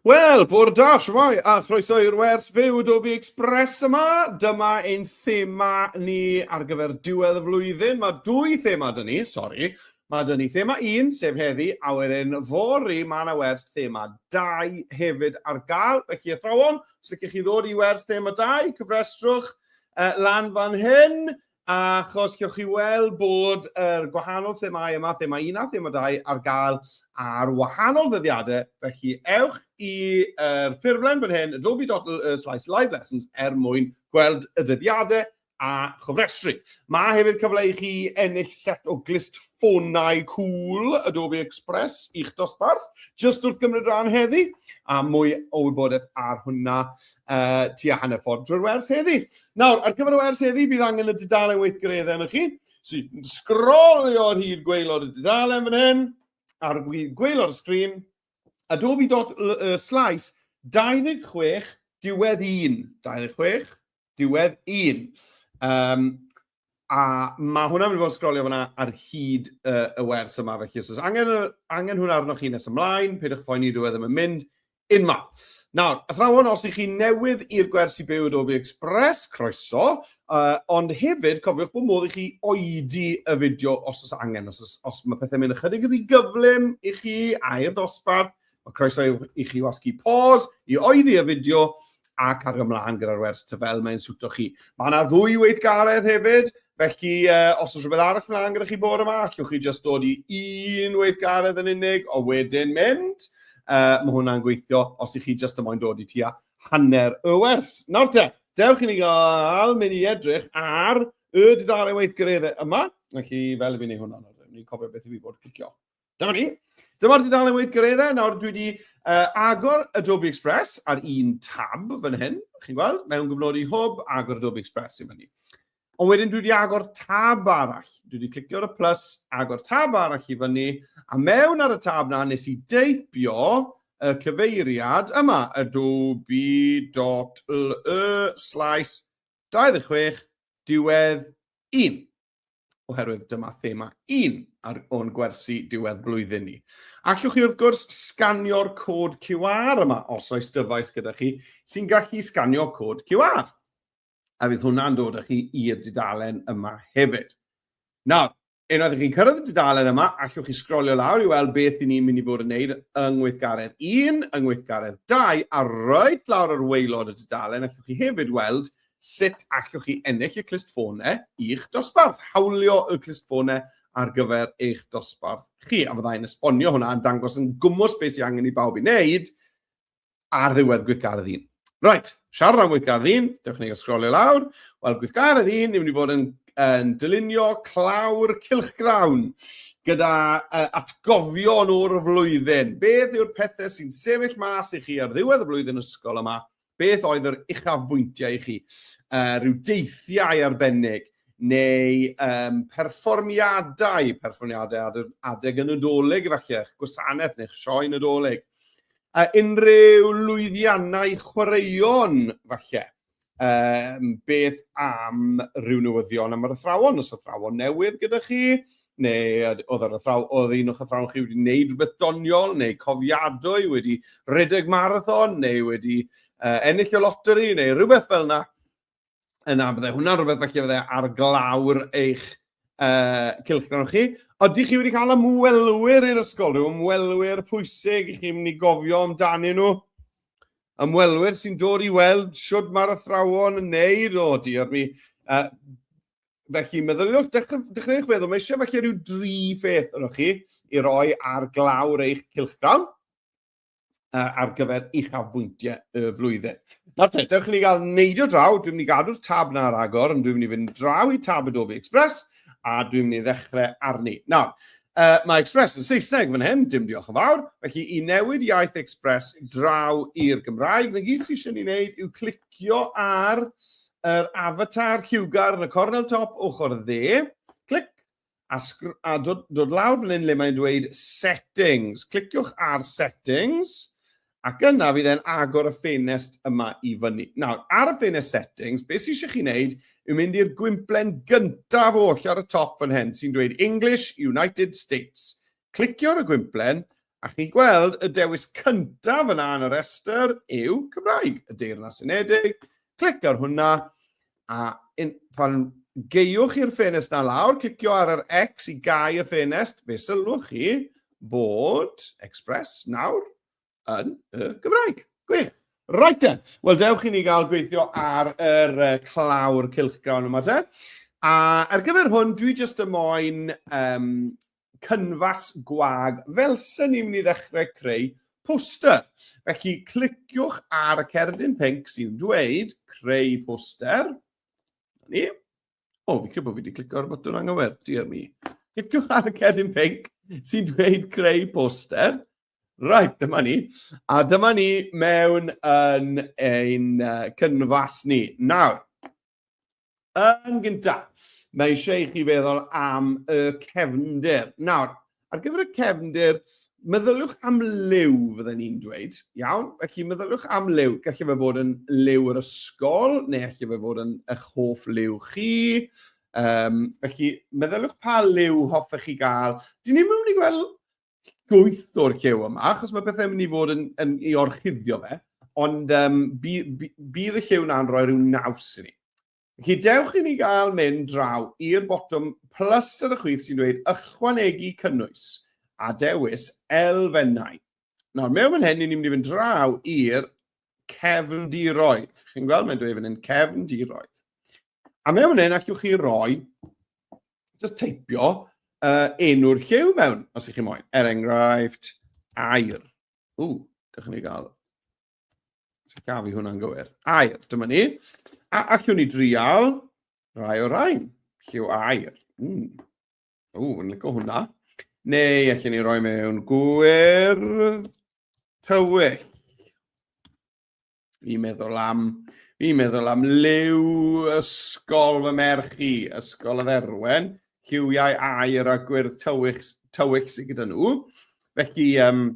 Wel, bore da, shwmae, a chroeso i'r wers fyw Adobe Express yma. Dyma ein thema ni ar gyfer diwedd y flwyddyn. Mae dwy thema dyn ni, sori. Mae dyn ni thema un, sef heddi, a wedyn fori mae yna wers thema dau hefyd ar gael. Felly athrawon, os ydych chi ddod i wers thema dau, cyfrestrwch uh, lan fan hyn. Achos gewch chi weld bod yr gwahanol themâu yma, thema 1 a thema 2, ar gael ar wahanol ddyddiadau, felly ewch i'r ffurflen fan hyn, adobe.com/livelessons, er mwyn gweld y dyddiadau a chofrestru. Mae hefyd cyfle i chi ennill set o glust ffonau cŵl Adobe Express i'ch dosbarth, jyst wrth gymryd rhan heddi, a mwy o wybodaeth ar hwnna uh, tua hanner ffordd drwy'r wers heddi. Nawr, ar gyfer y wers heddi, bydd angen y dudalen weithgareddau yn y chi. So, sgrolio ar hyd gweilod y dudalen fan hyn, ar gweilod y sgrin, adobe.slice 26 diwedd 1, 26 diwedd 1. Um, A mae hwnna'n mynd i fod yn sgrolio fyna ar hyd uh, y wers yma, felly os oes angen, angen hwnna arnoch chi nes ymlaen, peidiwch poeni, dwi e ddim yn mynd unma. Nawr, athrawon, os ych chi newydd i'r gwersi byw Adobe Express, croeso, uh, ond hefyd cofiwch bod modd i chi oedi y fideo os oes angen, os, os, os mae pethau'n mynd ychydig yn gyflym i chi a i'r dosbarth, Mae croeso i chi wasgu pause i oeddi y fideo ac ar ymlaen gyda'r wers ty fel mae'n swto chi. Mae yna ddwy weithgaredd hefyd, felly uh, os oes rhywbeth arall mlaen gyda chi bod yma, allwch chi jyst dod i un weithgaredd yn unig o wedyn mynd. Uh, mae hwnna'n gweithio os i chi jyst ymoen dod i tua hanner y wers. Nawr te, dewch i ni gael mynd i edrych ar y dudalen weithgareddau yma. Felly, fel i fi wneud hwnna, ni'n cofio beth i fi bod clicio. Dyma ni. Dyma'r dudalen weithgareddau. Nawr, dwi wedi uh, agor Adobe Express ar un tab fan hyn, chi'n gweld, mewn gyfnodi hwb, agor Adobe Express i fyny. Ond wedyn dwi wedi agor tab arall. Dwi wedi clicio ar y plus, agor tab arall i fyny, a mewn ar y tab na nes i deipio y cyfeiriad yma, adobe.le slash 26 diwedd 1. oherwydd dyma thema un ar o'n gwersi diwedd blwyddyn ni. Allwch chi wrth gwrs sganio'r cod QR yma os oes dyfais gyda chi sy'n gallu sganio cod QR. A fydd hwnna'n dod â chi i'r dudalen yma hefyd. Nawr, unwaith ych chi'n cyrraedd y dudalen yma, allwch chi sgrolio lawr i weld beth i ni'n mynd i fod yn gwneud yng ngweithgaredd 1, yng ngweithgaredd 2, a roed lawr ar waelod y dudalen, allwch chi hefyd weld Sut allwch chi ennill y clustffonau i'ch dosbarth? Hawlio y clustffonau ar gyfer eich dosbarth chi, a fyddai'n esbonio hwnna yn dangos yn gwmwys beth sy'n angen i bawb i wneud ar ddiwedd gweithgaredd un. Right, siarad am gweithgaredd un, dewch ni sgrolio lawr. Wel, gweithgaredd un, ni'n mynd i fod yn, yn dylunio clawr cilchgrawn gyda uh, atgofion o'r flwyddyn. Beth yw'r pethau sy'n sefyll mas i chi ar ddiwedd y flwyddyn ysgol yma Beth oedd yr uchafbwyntiau i chi? Uh, rhyw deithiau arbennig neu um, perfformiadau, perfformiadau adeg y Nadolig efallai, eich gwasanaeth neu'ch sioe Nadolig. A unrhyw lwyddiannau chwaraeon falle. Um, beth am rhyw newyddion am yr athrawon, os athrawon newydd gyda chi, neu oedd yr athraw, oedd un o'ch athrawon chi wedi gwneud rhywbeth doniol, neu cofiadwy, wedi rhedeg marathon, neu wedi uh, ennill y loteri, neu rhywbeth fel yna. Yna, byddai hwnna'n rhywbeth felly byddai ar glawr eich uh, cilchgron chi. Oeddi chi wedi cael ymwelwyr i'r ysgol, rhyw ymwelwyr pwysig i chi'n mynd i gofio amdanyn nhw? Ymwelwyr sy'n dod i weld siwt mae'r athrawon yn neud o, diolch mi. Uh, felly meddyliwch, dechreuwch feddwl, mae eisiau felly rhyw dri pheth yno chi i roi ar glawr eich cilchgrawn ar gyfer uchafbwyntiau y flwyddyn. Nawr te, dewch i ni gael neidio draw, dwi'n mynd i gadw'r tab na ar agor, ond dwi'n mynd i fynd draw i tab Adobe Express, a dwi'n mynd i ddechrau arni. Nawr, uh, mae Express yn Saesneg fan hyn, dim diolch yn fawr, felly i newid iaith Express draw i'r Gymraeg, na gyd sy'n eisiau ni wneud yw clicio ar yr avatar lliwgar yn y cornel top ochr dde, clic, a, a dod, dod lawr fan hyn le mae'n dweud settings. Cliciwch ar settings, ac yna fydd e'n agor y ffenest yma i fyny. Nawr, ar y ffenest settings, beth sy'n eisiau chi wneud yw mynd i'r gwymplen gyntaf oll ar y top fan hyn sy'n dweud English United States. Clicio ar y gwymplen a chi'n gweld y dewis cyntaf yna yn y rhestr yw Cymraeg, y Deyrnas Unedig. Clic ar hwnna a in, pan geiwch i'r ffenest na lawr, clicio ar yr X i gau y ffenest, fe sylwch chi bod Express nawr yn y Gymraeg. Gwych! Right then. Wel, dewch i ni gael gweithio ar yr uh, clawr cilchgrawn yma te. A ar gyfer hwn, dwi jyst y moyn um, cynfas gwag fel sy'n ni'n mynd i ddechrau creu poster. Felly, cliciwch ar y cerdyn pink sy'n dweud creu poster. Ni. O, fi'n credu bod fi wedi clicio ar y botwm anghywir, diar mi. Cliciwch ar y cerdyn pink sy'n dweud creu poster. Right, dyma ni. A dyma ni mewn yn ein uh, cynfas ni. Nawr, yn gyntaf, mae eisiau i chi feddwl am y cefnder. Nawr, ar gyfer y cefnder, meddyliwch am liw, fydden ni'n dweud. Iawn, felly meddyliwch am liw. Gallu fe fod yn liw yr ysgol, neu gallu fe fod yn eich hoff liw chi. Um, felly, meddyliwch pa liw hoffech chi gael. Dyn ni mewn i gweld llwyth o'r llew yma, achos mae pethau'n mynd i fod yn, yn ei orchuddio fe, ond um, bydd, bydd y llew na'n rhoi rhyw naws i ni. Felly dewch i ni gael mynd draw i'r botwm plus ar y chwith sy'n dweud ychwanegu cynnwys a dewis elfennau. Nawr, mewn fan hyn, ni'n mynd i fynd draw i'r cefndiroedd. Chi'n gweld, mae'n dweud fan hyn cefndiroedd. A mewn fan hyn, allwch chi roi just teipio uh, enw'r lliw mewn, os ych chi moyn. Er enghraifft, air. Ww, gallwn ni gael... Sut gaf i hwnna'n gywir? Air, dyma ni. A allwn ni drial rai o rain. Lliw air. Mm. Ww, yn lygo hwnna. Neu allwn ni roi mewn gwyr tywyll. Fi'n meddwl am, fi'n meddwl am liw ysgol fy merch i, ysgol y dderwen, lliwiau air a gwyrdd tywych, tywych sydd gyda nhw. Felly, um,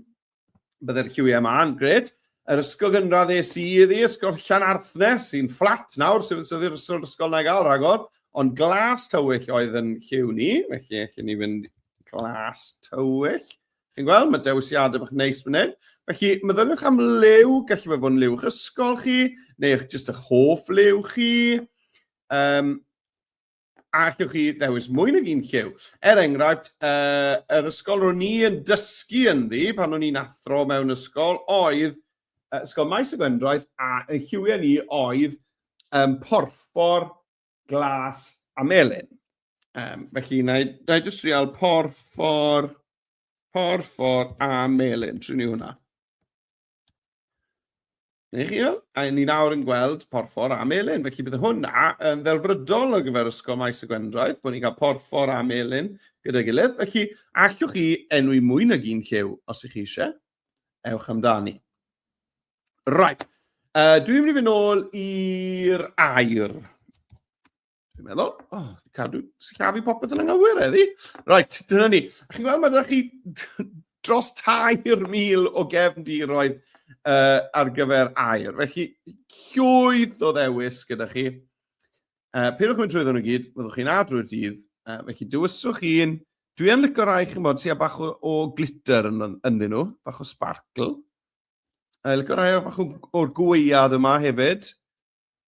byddai'r lliwiau yma'n gred. Yr ysgol gynradd es i iddi, ysgol Llan Arthne, sy'n fflat nawr, sy'n sydd i'r ysgol ysgol na gael rhagor, ond glas tywyll oedd yn lliw ni, felly allan ni fynd glas tywyll. Chi'n gweld, mae dewisiadau bach neis fan hyn. Felly, meddyliwch am liw, gallu fe fod yn liw'ch ysgol chi, neu eich jyst eich hoff liw chi. Um, a allwch chi ddewis mwy nag un lliw. Er enghraifft, uh, yr ysgol ro'n i yn dysgu ynddi pan o'n i'n athro mewn ysgol oedd uh, Ysgol Maes y Gwendraeth a y lliwiau ni oedd um, porffor glas a melyn. Um, felly, na i, na i just trial porffor, porffor a melyn. Trwy ni hwnna. Neu chi fel? A ni nawr yn gweld porffor a melyn. Felly bydd hwnna yn ddelfrydol o gyfer ysgol maes y Gwendraeth, bod ni'n cael porffor a melyn gyda'i gilydd. Felly, allwch chi enwi mwy nag un llew os ych chi eisiau. Ewch amdani. Right. Uh, dwi'n mynd i fynd ôl i'r air. Dwi'n meddwl, oh, cadw sillafu popeth yn anghywir eddi. Right, dyna ni. A chi'n gweld, mae ydych chi dros 3,000 o gefndiroedd uh, ar gyfer air. Felly, llwyth o ddewis gyda chi. Uh, Pyn o'ch mynd drwy ddyn nhw gyd, fyddwch chi'n adrwy'r dydd. Uh, felly, dywyswch chi'n... Dwi'n licio rai chi'n bod sy'n bach o, o glitter yn, ynddyn nhw, bach o sparkle. A lyco rhai o fach o'r gweiad yma hefyd.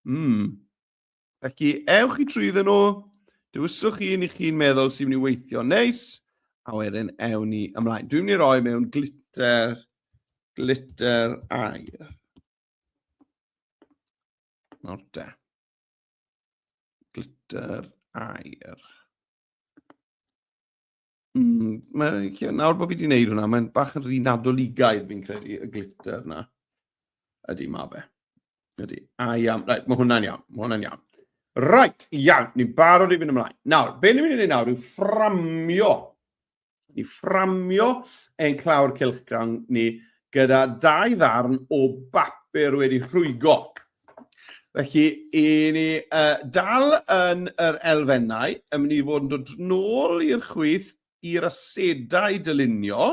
Mm. Felly, ewch i trwy ddyn nhw, dywyswch chi ni chi'n meddwl sy'n mynd i weithio neis, a wedyn ewn ni ymlaen. Dwi'n mynd i roi mewn glitter, glitter air. Nawr da. Glitter air. Mm, mae, nawr bod fi wedi gwneud hwnna, mae'n bach yn rhy nadoligaidd fi'n credu y glitter na. Ydy, ma fe. Ydy. A iawn. Right, mae hwnna'n iawn. Mae hwnna'n iawn. Right, iawn. Ni'n barod i fynd ymlaen. Nawr, be ni'n mynd i wneud nawr yw fframio. Ni fframio ein clawr cilchgrawn ni gyda dau ddarn o bapur wedi rhwygo. Felly, i ni uh, dal yn yr elfennau, yn mynd i fod yn dod nôl i'r chwyth i'r asedau dylunio,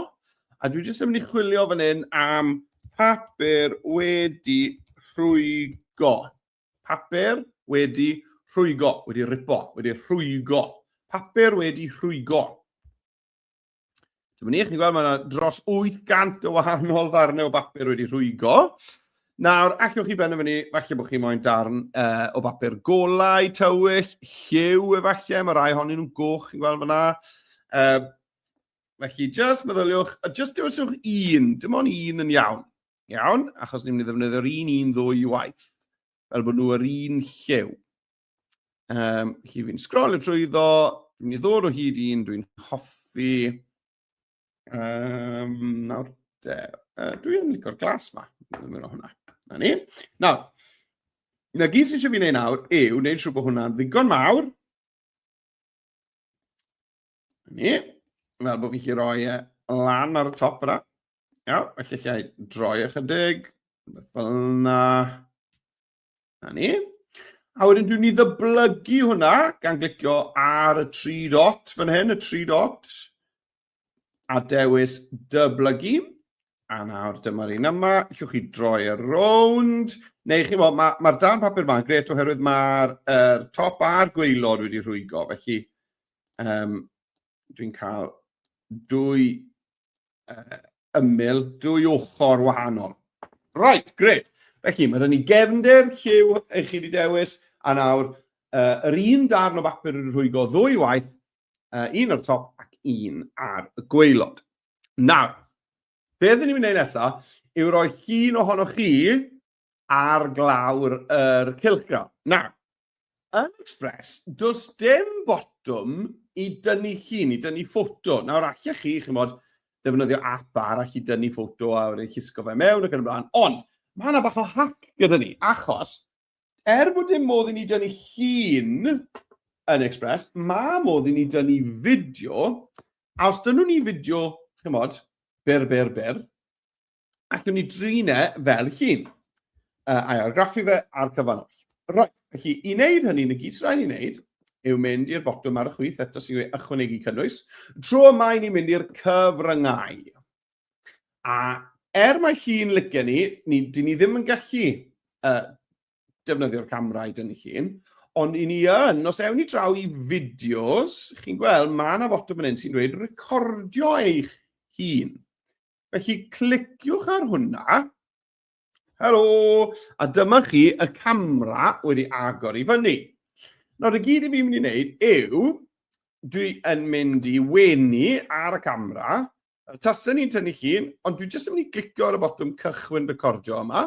a dwi jyst yn mynd i chwilio fan hyn am papur wedi rhwygo. Papur wedi rhwygo, wedi ripo, wedi rhwygo. Papur wedi rhwygo. Dyma ni, chi'n gweld, mae yna dros 800 o wahanol ddarnau o bapur wedi rhwygo. Nawr, allwch chi benderfynu, falle bod chi moyn darn uh, o bapur golau, tywyll, lliw efallai, mae rai honyn nhw'n goch, chi'n gweld fyna. Uh, felly, just meddyliwch, a just dewisiwch un, dim ond un yn iawn. Iawn, achos ni'n mynd i ddefnyddio'r un un ddwy waith, fel bod nhw yr un lliw. Um, chi fi'n sgrol y trwyddo, dwi'n ei ddod o hyd un, dwi'n hoffi. Um, nawr, de, uh, dwi'n licor glas ma, dwi'n mynd o hwnna. Na ni. Nawr, na gyd sy'n eisiau fi wneud nawr yw wneud siw bod hwnna'n ddigon mawr. Na ni. Fel bod fi chi roi e lan ar y top yna. Iawn, felly chi ai droi ychydig, fel yna. Na ni. A wedyn dwi'n ni ddyblygu hwnna gan glicio ar y tri dot fan hyn, y tri dot, a dewis dyblygu. A nawr dyma'r un yma, llwch chi droi ar rownd, neu chi mo, mae'r ma dan papur yma yn gret oherwydd mae'r er, top a'r gweilod wedi rhwygo, felly um, dwi'n cael dwy ymyl dwy ochr wahanol. Right, gred. Felly, mae rhan ni gefnder, lliw, eich chi wedi dewis, a nawr uh, yr un darn o bapur yn rhwygo ddwy waith, uh, un o'r top ac un ar y gweilod. Nawr, be ydyn ni'n mynd nesaf yw roi llun ohonoch chi ar glawr yr cylchgrawn. Na, yn Express, does dim botwm i dynnu llun, i dynnu ffoto. Nawr, allech chi, chi'n bod, defnyddio app arall i dynnu ffoto a wedi llusgo fe mewn ac yn y blaen. Ond, mae yna bach o hack gyda ni, achos, er bod dim modd i ni dynnu llun yn Express, mae modd i ni dynnu fideo, a os dynnu ni fideo, chi'n bod, byr, byr, byr, ac yn ei drin e fel hun, uh, a'i argraffu fe a'r cyfan oll. Right, felly i wneud hynny, yn y gyd sy'n rhaid i wneud yw mynd i'r botwm ar y chwith eto sy'n gwneud ychwanegu cynnwys. Tro yma i ni'n mynd i'r cyfryngau. A er mae hi'n licio ni, ni dyn ni ddim yn gallu uh, defnyddio'r camera i dynnu llun, ond i ni yn, os ewn ni draw i fideos, chi'n gweld, mae yna fotwm yn un sy'n dweud recordio eich hun. Felly, cliciwch ar hwnna. Helo! A dyma chi y camera wedi agor i fyny. Nawr, y gyd i fi'n mynd i wneud yw, dwi yn mynd i wenu ar y camera, tasau ni'n tynnu llun, ond dwi jyst yn mynd i glicio ar y botwm cychwyn recordio yma.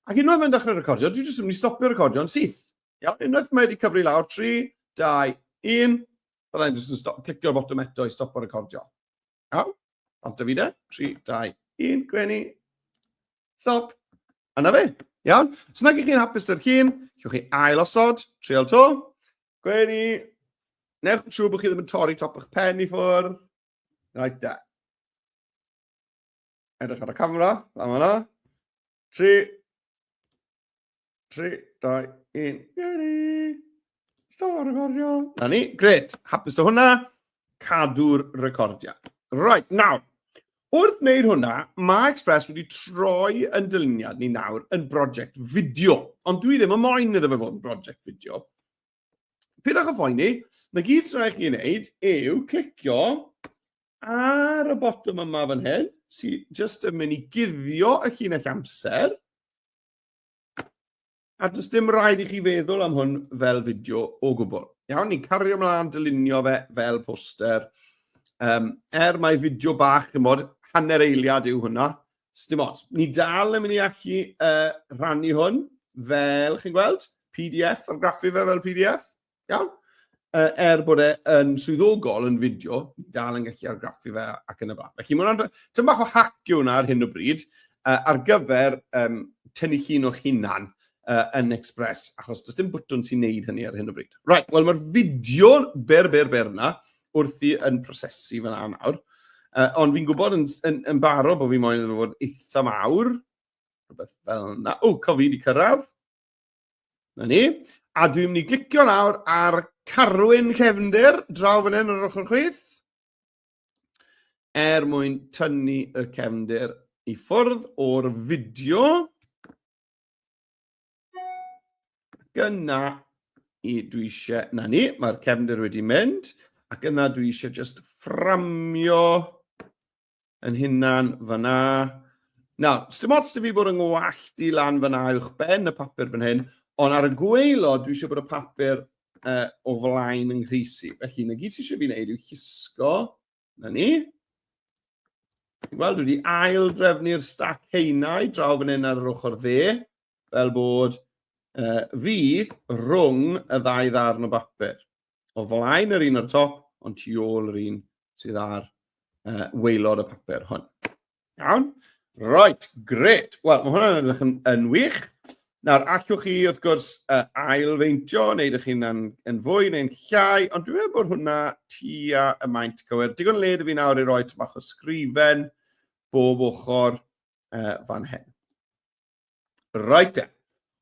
Ac unwaith mae'n dechrau recordio, dwi jyst yn mynd i stopio recordio yn syth. Iawn, unwaith mae wedi cyfri lawr 3, 2, 1, byddai'n jyst yn clicio ar y botwm eto i stopio recordio. Aw, ond Davide, 3, 2, 1, gwenu. Stop. A na fe. Iawn? Os nag ych chi'n hapus dy'r hun, chiwch chi ail osod, trial to. Gwenu. Newch yn siŵr bod chi ddim yn torri top eich pen i ffwrdd. Right there. Edrych ar y camera, fan yna. Tri. Tri, dau, un. Geri. Stop recordio. Na ni, gret. Hapus o hwnna. Cadw'r recordio. Right, nawr. Wrth wneud hwnna, mae Express wedi troi yn dyluniad ni nawr yn brosiect fideo. Ond dwi ddim yn moyn iddo fe fod yn brosiect fideo. Pidwch o boeni, na gyd sy'n rhaid chi wneud yw clicio ar y botwm yma fan hyn, sy'n just yn mynd i guddio y llinell amser. A does dim rhaid i chi feddwl am hwn fel fideo o gwbl. Iawn, ni'n cario ymlaen dylunio fe fel poster. Um, er mae fideo bach, yn bod, hanner eiliad yw hwnna, Sdim ots. Ni dal yn mynd i allu uh, rhannu hwn fel, chi'n gweld, PDF, ar graffu fe fel PDF. Iawn? Uh, er bod e yn swyddogol yn fideo, ni dal yn gallu argraffu fe ac yn y blaen. Felly, mae'n tyn bach o hac yw hwnna ar hyn o bryd uh, ar gyfer um, tynnu llun o'ch hunan uh, yn Express, achos does dim bwtwn sy'n neud hynny ar hyn o bryd. Right, wel mae'r fideo ber, ber, ber yna, wrthi yn prosesu fel yna nawr. Uh, ond fi'n gwybod yn, yn, yn baro bod fi moyn yn fod eitha mawr. Rhywbeth fel yna. O, cof fi wedi cyrraedd. Na ni. A dwi'n mynd i glicio nawr ar Carwyn Cefnder, draw fan hyn ar ochr chwith. Er mwyn tynnu y cefnder i ffwrdd o'r fideo. Gyna i dwi eisiau, na ni, mae'r cefndir wedi mynd, ac yna dwi eisiau just fframio yn hunan fyna. Na, dim ots da fi bod yn ngwallt i lan fyna uwch ben y papur fan hyn, ond ar y gweilo dwi eisiau bod y papur uh, o flaen yng nghysi. Felly, na gyd ti eisiau fi wneud yw hisgo Na ni. Wel, dwi wedi ail drefnu'r stac heinau draw fan hyn ar yr ochr dde, fel bod uh, fi rhwng y ddau ddarn o bapur. O flaen yr un o'r top, ond tu ôl yr un sydd ar uh, weilod y papur hwn. Iawn? Right, gret. Wel, mae hwnna'n edrych yn, yn wych. Nawr, allwch chi, wrth gwrs, uh, ailfeintio, neu ydych chi'n yn, yn fwy neu'n llai, ond dwi'n meddwl bod hwnna tua y maint cywir. Digon led i fi nawr i roi tymach o sgrifen bob ochr uh, fan hyn. Right then.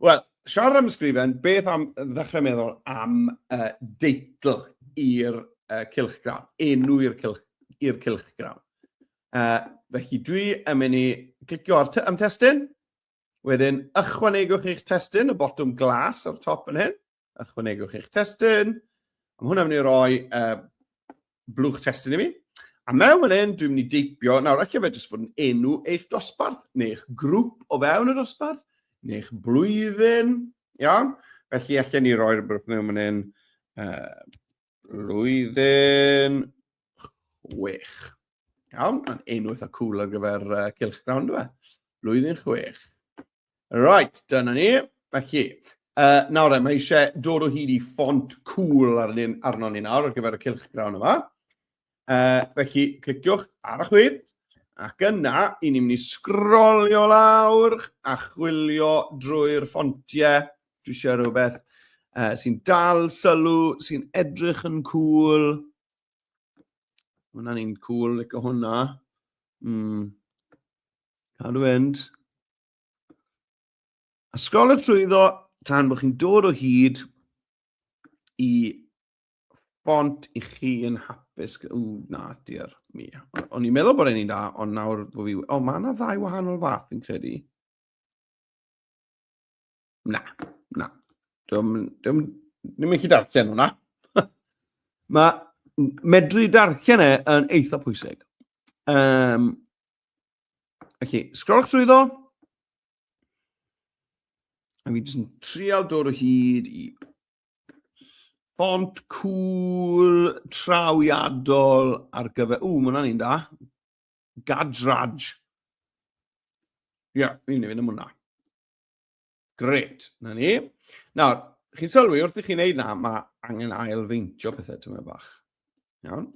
Wel, siarad am ysgrifen, beth am ddechrau meddwl am uh, deitl i'r uh, cilchgrawn, enw i'r cilch, i'r cilchgrawn. Uh, felly dwi yn mynd i clicio ar am testyn, wedyn ychwanegwch eich testyn, y botwm glas o'r top yn hyn, ychwanegwch eich testyn. Mae hwnna'n mynd i roi uh, blwch testyn i mi. A mewn fan hyn, dwi'n mynd i deipio, nawr ac efe jyst fod yn enw eich dosbarth, neu eich grŵp o fewn y dosbarth, neu eich blwyddyn, iawn? Felly, allan ni roi'r brwch mewn fan hyn, uh, blwyddyn chwech. Iawn, mae'n enw eitha cool ar gyfer uh, cylch grawn, dwi? Blwyddyn chwech. Right, dyna ni. Felly, uh, nawr e, mae eisiau dod o hyd i ffont cool ar un arno ni nawr ar gyfer y cilch grawn yma. Uh, felly, cliciwch ar y chwyd, ac yna, i ni'n mynd i sgrolio lawr a chwilio drwy'r ffontiau. Dwi eisiau rhywbeth uh, sy'n dal sylw, sy'n edrych yn cool. Hwna'n un cool, like hwnna. Mm. Cadw fynd. A sgol y trwyddo tan bod chi'n dod o hyd i bont i chi yn hapus. O, na, diar mi. O'n i'n meddwl bod e'n un da, ond nawr bod fi... O, mae yna ddau wahanol fath fi'n credu. Na, na. Dwi'n ddim yn gallu darllen hwnna. Mae medru darllen e yn eitha pwysig. Um, felly, sgrol trwy ddo. A fi jyst yn trial dod o hyd i font cool trawiadol ar gyfer... Ww, mae hwnna'n un da. Gadraj. Ia, yeah, fi'n mynd am hwnna. Gret, na ni. Nawr, chi'n sylwi wrth i chi'n neud na, mae angen ailfeintio pethau tyma bach. Iawn?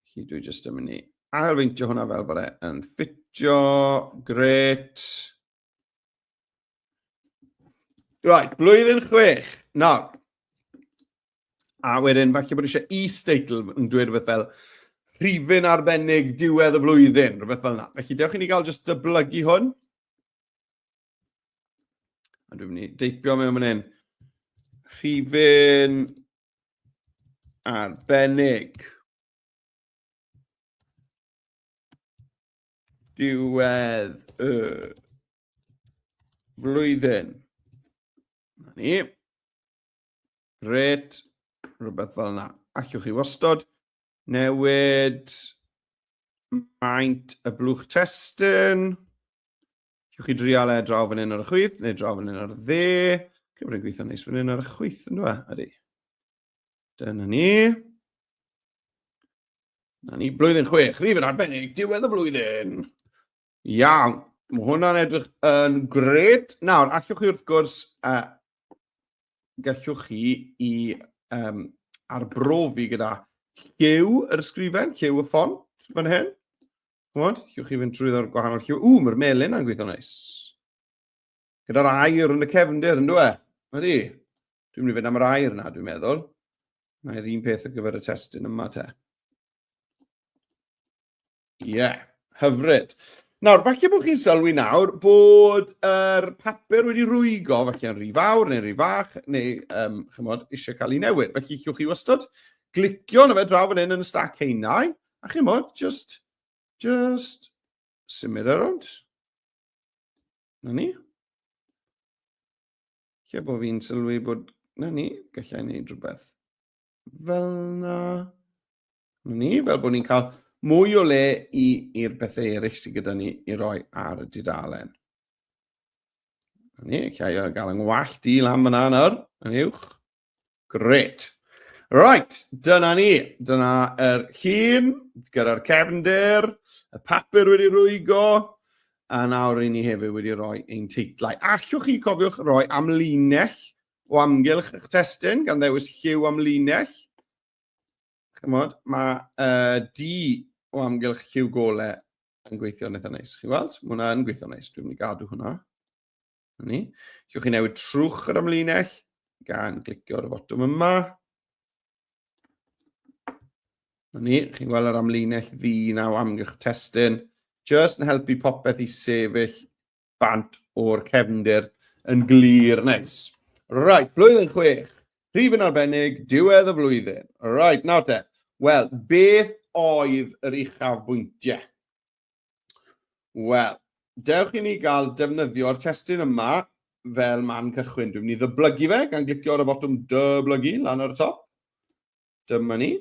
Chi dwi jyst yn mynd i ailfeintio hwnna fel bod e'n ffitio. Gret. Right, blwyddyn chwech. Nawr, a wedyn falle bod eisiau e-statel yn dweud rhywbeth fel rhifyn arbennig diwedd y flwyddyn, rhywbeth fel yna. Felly, dewch i ni gael just dyblygu hwn. A dwi'n mynd i deipio mewn fan hyn. Rhifyn arbennig. Diwedd y flwyddyn. Na ni. Gret. Rhywbeth fel yna. Allwch chi wastod Newid maint y blwch testun. Cewch chi drial e draw fan hyn ar y chwith, neu draw fan hyn ar y dde. Cymru'n gweithio neis fan hyn ar y chwith, yn dweud, e? Ydy. Dyna ni. Na ni, blwyddyn chwech, rhif yn arbennig, diwedd y flwyddyn. Iawn, mae hwnna'n edrych yn gred. Nawr, allwch chi wrth gwrs, uh, gallwch chi i um, arbrofi gyda lliw yr ysgrifen, lliw y ffon, fan hyn. Chymod, llwch chi fynd trwy ddod gwahanol lliw. Ww, mae'r melin yn gweithio neis. Gyda'r air yn y cefndir, yn dweud? Ydy. Dwi'n mynd i fynd am yr air yna, dwi'n meddwl. Mae'r un peth ar gyfer y testyn yma te. Ie, yeah, hyfryd. Nawr, falle bod chi'n sylwi nawr bod yr er papur wedi rwygo, falle yn rhy fawr neu rhy fach, neu um, chymod, eisiau cael ei newid. Felly, chywch chi wastad glicio na fe draw fan hyn yn y stac heinau, a chymod, just, just symud ar e ond. Na ni. Lle bod fi'n sylwi bod... Na ni, gallai wneud rhywbeth fel na. Na ni, fel bod ni'n cael mwy o le i'r bethau eraill sydd gyda ni i roi ar y dudalen. Na ni, gallai gael yng ngwallt i lan fyna nawr, yn uwch. Gret. Right, dyna ni. Dyna yr hun, gyda'r cefnder, y papur wedi rwygo, a nawr i ni hefyd wedi rhoi ein teitlau. Allwch chi cofiwch roi amlinell o amgylch eich testyn, gan ddewis lliw amlinell. Chymod, mae uh, di o amgylch lliw gole yn gweithio'n eitha neis. Chi weld? Mae hwnna yn gweithio'n neis. Dwi'n mynd i gadw hwnna. Ni. Gewch chi newid trwch yr amlinell gan glicio ar y fotwm yma. Ni, chi'n gweld yr amlinell ddi naw amgylch testyn. Just yn helpu popeth i sefyll bant o'r cefndir yn glir neis. Right, blwyddyn chwech. Rhif yn arbennig, diwedd y flwyddyn. Right, nawr te. Wel, beth oedd yr uchaf bwyntiau? Wel, dewch i ni gael defnyddio'r testyn yma fel man cychwyn. Dwi'n mynd i ddyblygu fe gan glicio ar y botwm dyblygu lan ar y top. Dyma ni.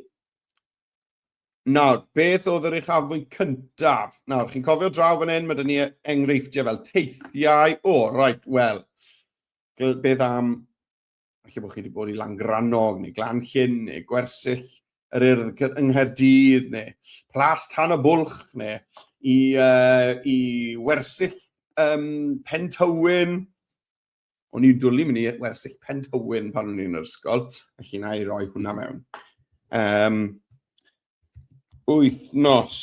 Nawr, beth oedd yr uchafbwynt cyntaf? Nawr, chi'n cofio draw fan hyn, mae dyn ni enghreifftiau fel teithiau. O, oh, right, wel, beth am Felly bod chi wedi bod i Langrannog, neu Glanllyn, neu Gwersyll, yr Urdd yng Nghaerdydd, neu Plas Tan y Bwlch, neu i, uh, i Wersyll um, Pen Tywyn. O'n i'n dwlu mynd i Wersyll Pen Tywyn pan o'n i'n yr ysgol, felly na i roi hwnna mewn. Um, wythnos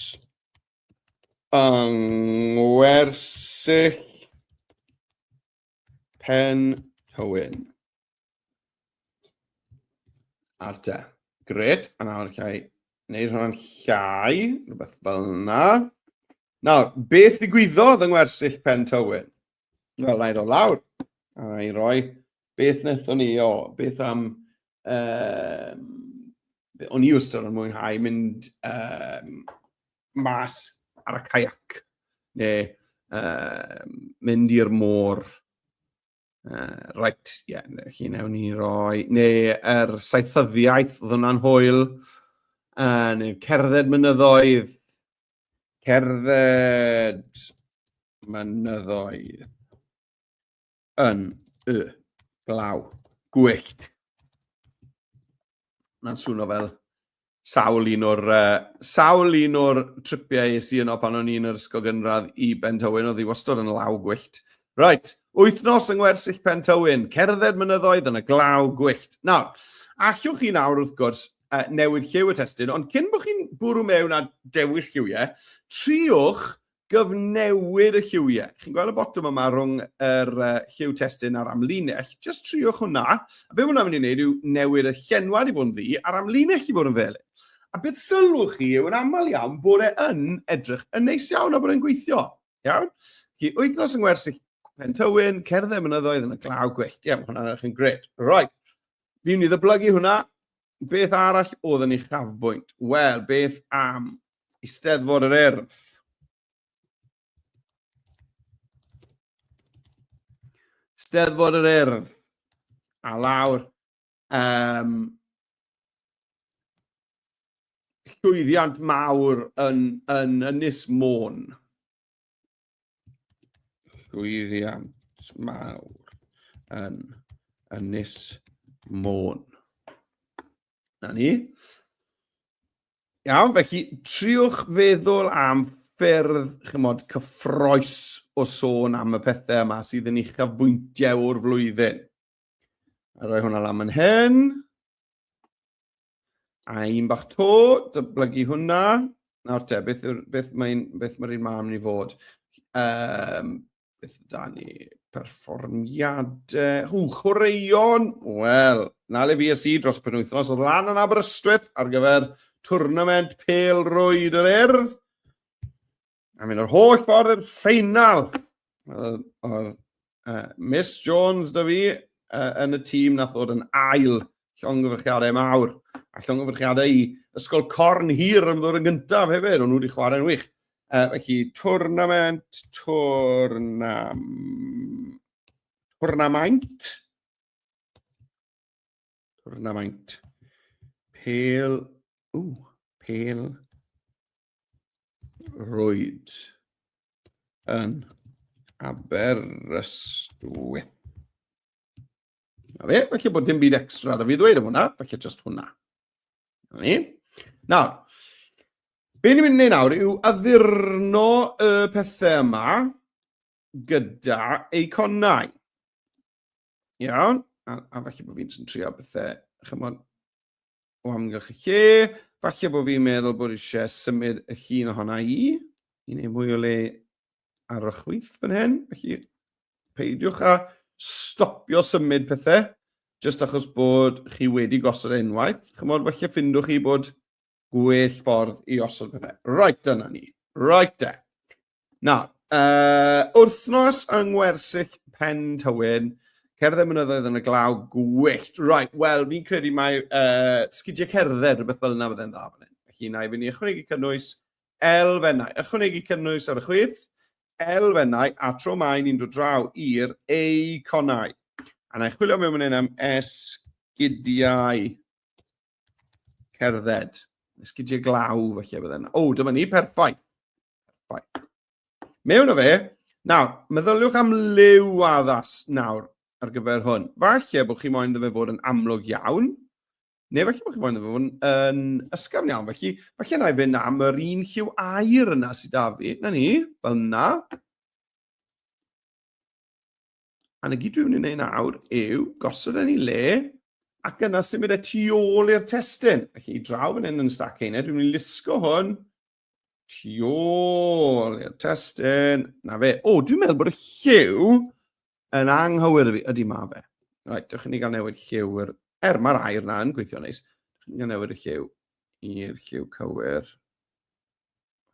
yng Ngwersyll Pen Hywyn. Ar te. Gret, a nawr llai. Neu rhan llai, rhywbeth fel yna. Nawr, beth ddigwyddodd yng ngwersyll Pen Tywyn? Wel, na i ddod lawr. A na i roi beth wnaethon ni, o, beth am um, o'n i wrstod yn mwynhau mynd um, mas ar y caiac, neu um, mynd i'r môr, Uh, right, ie, yeah, chi newn ni roi, neu yr er saethyddiaeth oedd hwnna'n hwyl, uh, neu cerdded mynyddoedd, cerdded mynyddoedd. yn y glaw. Gwyllt. Mae'n swno fel sawl un o'r uh, sawl un o'r tripiau es i yno pan o'n i'n yr ysgol gynradd i Ben Tywyn oedd i wastod yn law gwyllt. Right, wythnos yng ngwersyll Pen Tywyn, cerdded mynyddoedd yn y glaw gwyllt. Nawr, allwch chi nawr wrth gwrs uh, newid lliw y testyn, ond cyn bod chi'n bwrw mewn a dewis lliwiau, triwch gyfnewid y lliwiau. Chi'n gweld y botwm yma rhwng yr uh, lliw testyn a'r amlinell. Just triwch hwnna. A beth hwnna'n mynd i wneud yw newid y llenwad i fod yn ddi a'r amlinell i fod yn felyn. A beth sylwch chi yw yn aml iawn bod e yn edrych yn neis iawn a bod e'n gweithio. Iawn? Chi wythnos yng Ngwersyll Pentywyn, cerdded mynyddoedd yn y glaw gwyllt. Ie, mae hwnna'n edrych yn gred. Right. Fi'n i ddyblygu hwnna. Beth arall oedd yn ei chafbwynt? Wel, beth am Eisteddfod yr Urdd? Eisteddfod yr Urdd. A lawr, um, llwyddiant mawr yn, yn Ynys Môn. llwyddiant mawr yn Ynys Môn. Na ni. Iawn, felly triwch feddwl am ffyrdd, chymod, cyffroes o sôn am y pethau yma sydd yn eich afbwyntiau o'r flwyddyn. A rhoi hwnna lan yn hyn. A un bach to, dyblygu hwnna. Nawr te, beth, beth mae'n beth mae'r un mam ni fod? Um, beth da ni? Perfformiadau. Hw, chwaraeon! Wel, na le fi a si dros penwythnos oedd lan yn Aberystwyth ar gyfer twrnament pel rwyd yr erdd. A mynd yr holl ffordd i'r ffeinal. Oedd uh, Miss Jones da fi uh, yn y tîm nath ddod yn ail llongyfrchiadau mawr a llongyfrchiadau i Ysgol Corn Hir yn ddod yn gyntaf hefyd, ond nhw wedi chwarae'n wych. Uh, felly, twrnament, twrnam... twrnamaint. Twrnamaint. Pel... Ww, pel... roed yn Aberystwyth. Na fe, felly bod dim byd extra ar y fi ddweud am hwnna, felly just hwnna. Na ni. Nawr, be ni'n mynd i wneud nawr yw addurno y pethau yma gyda eiconau. Iawn, a, a falle bod fi'n trio bethau, chymod, o amgylch y lle. Falle bod fi'n meddwl bod eisiau symud y llun ohona i, i wneud mwy o le ar y chwyth fan hyn. Felly, peidiwch a stopio symud pethau, jyst achos bod chi wedi gosod e unwaith. Chymod, falle ffindwch chi bod gwell ffordd i osod pethau. Right, dyna ni. Right, e. Na, uh, wrthnos yng Ngwersyll Pen Tywyn, cerdded mynyddoedd yn y glaw, gwyllt. Right, wel, fi'n credu mae uh, sgidiau cerdded, rhywbeth fel yna fydde'n dda fan hyn. Felly, na i fynd i ychwanegu cynnwys elfennau. Ychwanegu cynnwys ar y chwith, elfennau, a tro mae ni'n dod draw i'r eiconau. A na i chwilio mewn fan hyn am esgidiau. Cerdded. Esgidiau glaw, felly, bydde yna. O, dyma ni, perffaith. Perffaith. Mewn o fe, nawr, meddyliwch am liw addas nawr ar gyfer hwn. Falle bod chi moyn ddefa fod yn amlwg iawn, neu falle bod chi moyn ddefa fod yn, yn ysgafn iawn. Felly, falle na i fynd am yr un lliw air yna sydd da fi. Na ni, fel na. A na gyd dwi'n mynd i wneud nawr yw gosod yn ei le ac yna symud e tu ôl i'r testyn. Ac i draw fan hyn yn y stac hynny, dwi'n mynd i lusgo hwn tu ôl i'r testyn. Na fe. O, dwi'n meddwl bod y lliw yn anghywir i fi. Ydy ma fe. Right, dewch i ni gael newid lliw. Er, er mae'r air na yn gweithio neis. Dewch i ni gael newid y lliw i'r lliw cywir.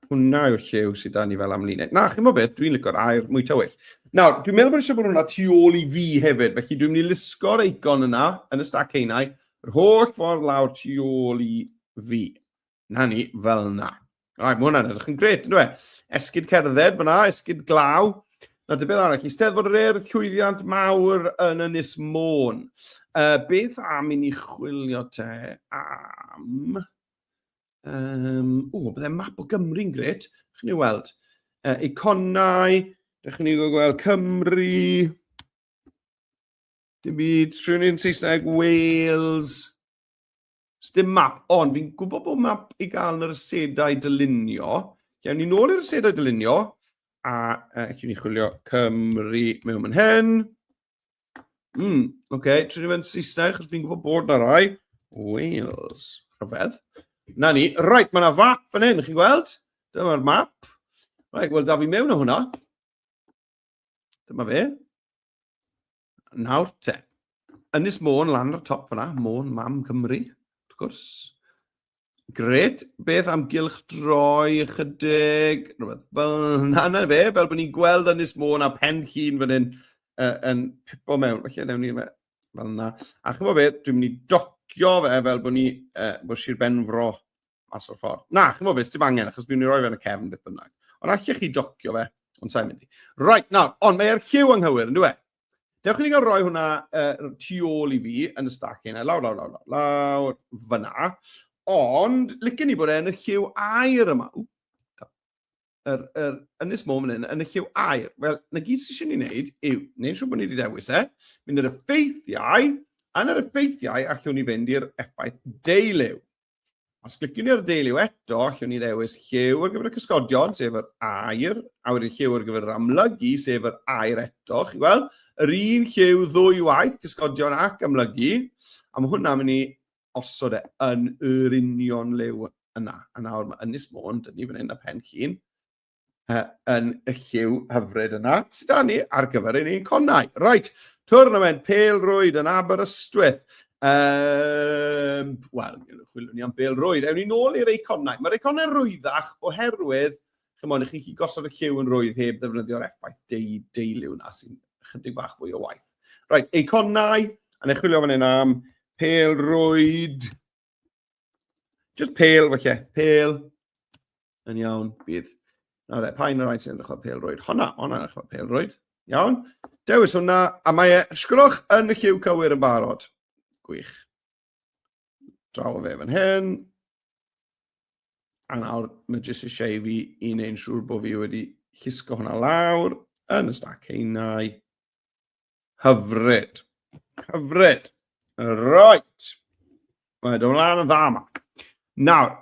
Hwna yw'r llew sydd da ni fel amlinell. Na, chi'n mo beth, dwi'n lygo'r air mwy tywyll. Nawr, dwi'n meddwl bod eisiau bod hwnna tu ôl i fi hefyd, felly dwi'n mynd i lusgo'r eicon yna, yn y stac einau, yr holl ffordd lawr tu ôl i fi. Na ni, fel yna. Rai, mae hwnna'n edrych yn gret, ynddo e? Esgyd cerdded fyna, esgyd glaw. Na, dy beth arall, i steddfod yr erdd llwyddiant mawr yn Ynys Môn. Uh, beth am i ni chwilio te am... Um, o, bydde map o Gymru'n gret. Chi'n ei weld? Uh, iconau. Rydych chi'n gweld Cymru. Dim byd. Rhywun yn Saesneg, Wales. Dim map, ond fi'n gwybod bod map i gael yn yr asedau dylunio. Iawn ni nôl i'r asedau dylunio. A uh, chi'n ni chwilio Cymru mewn yn hyn. Mm, oce, okay. trin i fe'n Saesneg, chos fi'n gwybod bod na rai. Wales. Rhyfedd. Na ni. Right, mae yna fap fan hyn, chi'n gweld? Dyma'r map. Right, wel, da fi mewn o hwnna. Dyma fe. Nawr te. Ynys Môn lan ar y top fyna, Môn Mam Cymru, wrth gwrs. Gret, beth am gylch droi ychydig, rhywbeth fel yna na fe, fel bod ni'n gweld Ynys Môn a pen llun fan hyn uh, yn pipo mewn. Felly, newn ni fe fel yna. A chymod beth, dwi'n mynd i docio fe fel bod ni, uh, bod Sir Benfro mas o'r ffordd. Na, chymod beth, dim angen, achos dwi'n mynd i roi fe yn y cefn beth bynnag. Ond allech chi docio fe, ond sa'n mynd i. Right, nawr, ond mae'r lliw anghywir, yn dwi e? Dewch i ni gael rhoi hwnna uh, tu ôl i fi yn y stac hynna, lawr, lawr, lawr, lawr, lawr, fyna. Ond, licen ni bod e yn y lliw air yma. Ww, yr, yr ynys môn fan hyn, yn y lliw air. Wel, na gyd sy'n eisiau ni wneud yw, neu'n siŵr bod ni wedi dewis e, mynd yr effeithiau, yn yr effeithiau allwn ni fynd i'r effaith deiliw. Os clicwn ni ar y deiliw eto, allwn ni ddewis lliw ar gyfer y cysgodion, sef yr air, a wedyn lliw ar gyfer yr amlygu, sef yr air eto. Chi weld, yr un lliw ddwy waith, cysgodion ac amlygu, a mae hwnna'n mynd i osod e yn yr union liw yna. A nawr mae Ynys Môn, dyn ni fan hyn a pen llun, yn y lliw hyfryd yna sydd da ni ar gyfer ein conau. Right, twrnament Pel Rwyd yn Aberystwyth. Um, Wel, chwilwn ni am Pel Rwyd. Ewn ni nôl i'r eiconau. Mae'r eiconau rwyddach oherwydd, chymod, i chi gosod y lliw yn rwydd heb ddefnyddio'r effaith deu, deiliw na sy'n chydig bach fwy o waith. Right, eiconau, a neu chwilio fan hyn am Pel Rwyd. Just pale, felly. Pale. Yn iawn, bydd. Na fe, pa un o'r rhaid sy'n edrych o'r pelrwyd? Honna, honna edrych o'r pelrwyd. Iawn. Dewis hwnna, a mae e, sgwrwch yn y lliw cywir yn barod. Gwych. Draw o fe fan hyn. A nawr, mae jyst eisiau i fi i wneud yn siŵr bod fi wedi llusgo hwnna lawr yn y stac heinau. Hyfryd. Hyfryd. Right. Mae dy flaen yn dda yma. Nawr,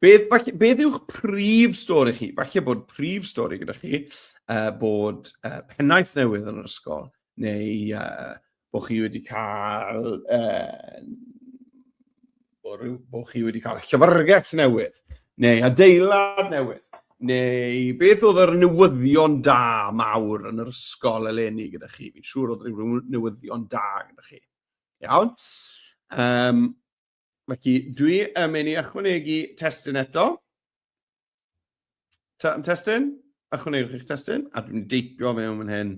beth, beth yw'ch prif stori chi? Falle bod prif stori gyda chi uh, bod uh, pennaeth newydd yn yr ysgol, neu uh, bod chi wedi cael uh, bod chi wedi cael llyfrgell newydd, neu adeilad newydd, neu beth oedd yr newyddion da mawr yn yr ysgol eleni gyda chi? Fi'n siŵr oedd rhyw newyddion da gyda chi. Iawn? Um, felly, dwi yn mynd i ychwanegu testyn eto. Testyn? Ychwanegwch eich testyn, a dwi'n deipio fe o'n hyn.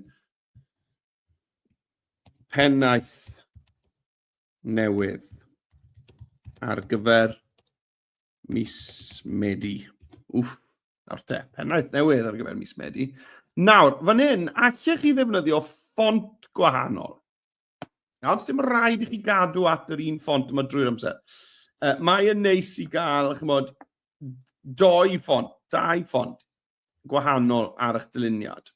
pennaeth newydd ar gyfer mis Medi. Wff, nawr te, pennaeth newydd ar gyfer mis Medi. Nawr, fan hyn, allech chi ddefnyddio ffont gwahanol. Nawr, sy'n rhaid i chi gadw at yr un ffont yma drwy'r amser. Uh, mae yn neis i gael, chymod, doi ffont, dau ffont gwahanol ar eich dyluniad.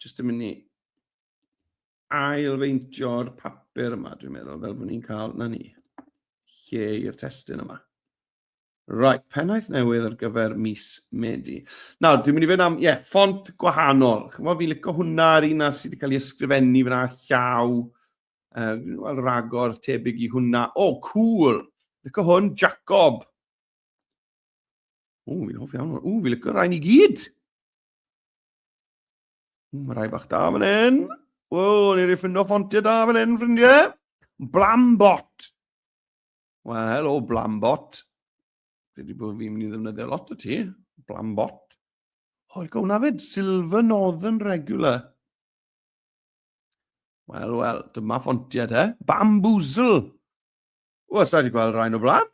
Just yn mynd i ailfeintio'r papur yma, dwi'n meddwl, fel bod ni'n cael, na ni, lle i'r testyn yma. Right, pennaeth newydd ar gyfer mis Medi. Nawr, dwi'n mynd i fynd am, ie, yeah, ffont gwahanol. Chymod, fi'n licio hwnna ar un sydd wedi cael ei ysgrifennu fyna llaw. Uh, Wel, ragor tebyg i hwnna. O, oh, cool! Licio hwn, Jacob. O, fi'n hoff iawn. O, fi'n licio rhain i gyd. Mae rhai bach da fan hyn. Wel, ni'n ei ffindo ffontiau da fan hyn, ffrindiau. Blambot. Wel, helo, Blambot. Dwi wedi bod fi'n mynd i ddefnyddio lot o ti. Blambot. Hoi, gawn na fyd, Silver Northern Regular. Wel, wel, dyma ffontiau te. Bamboozle. Wel, sa'i wedi gweld rhain o blaen.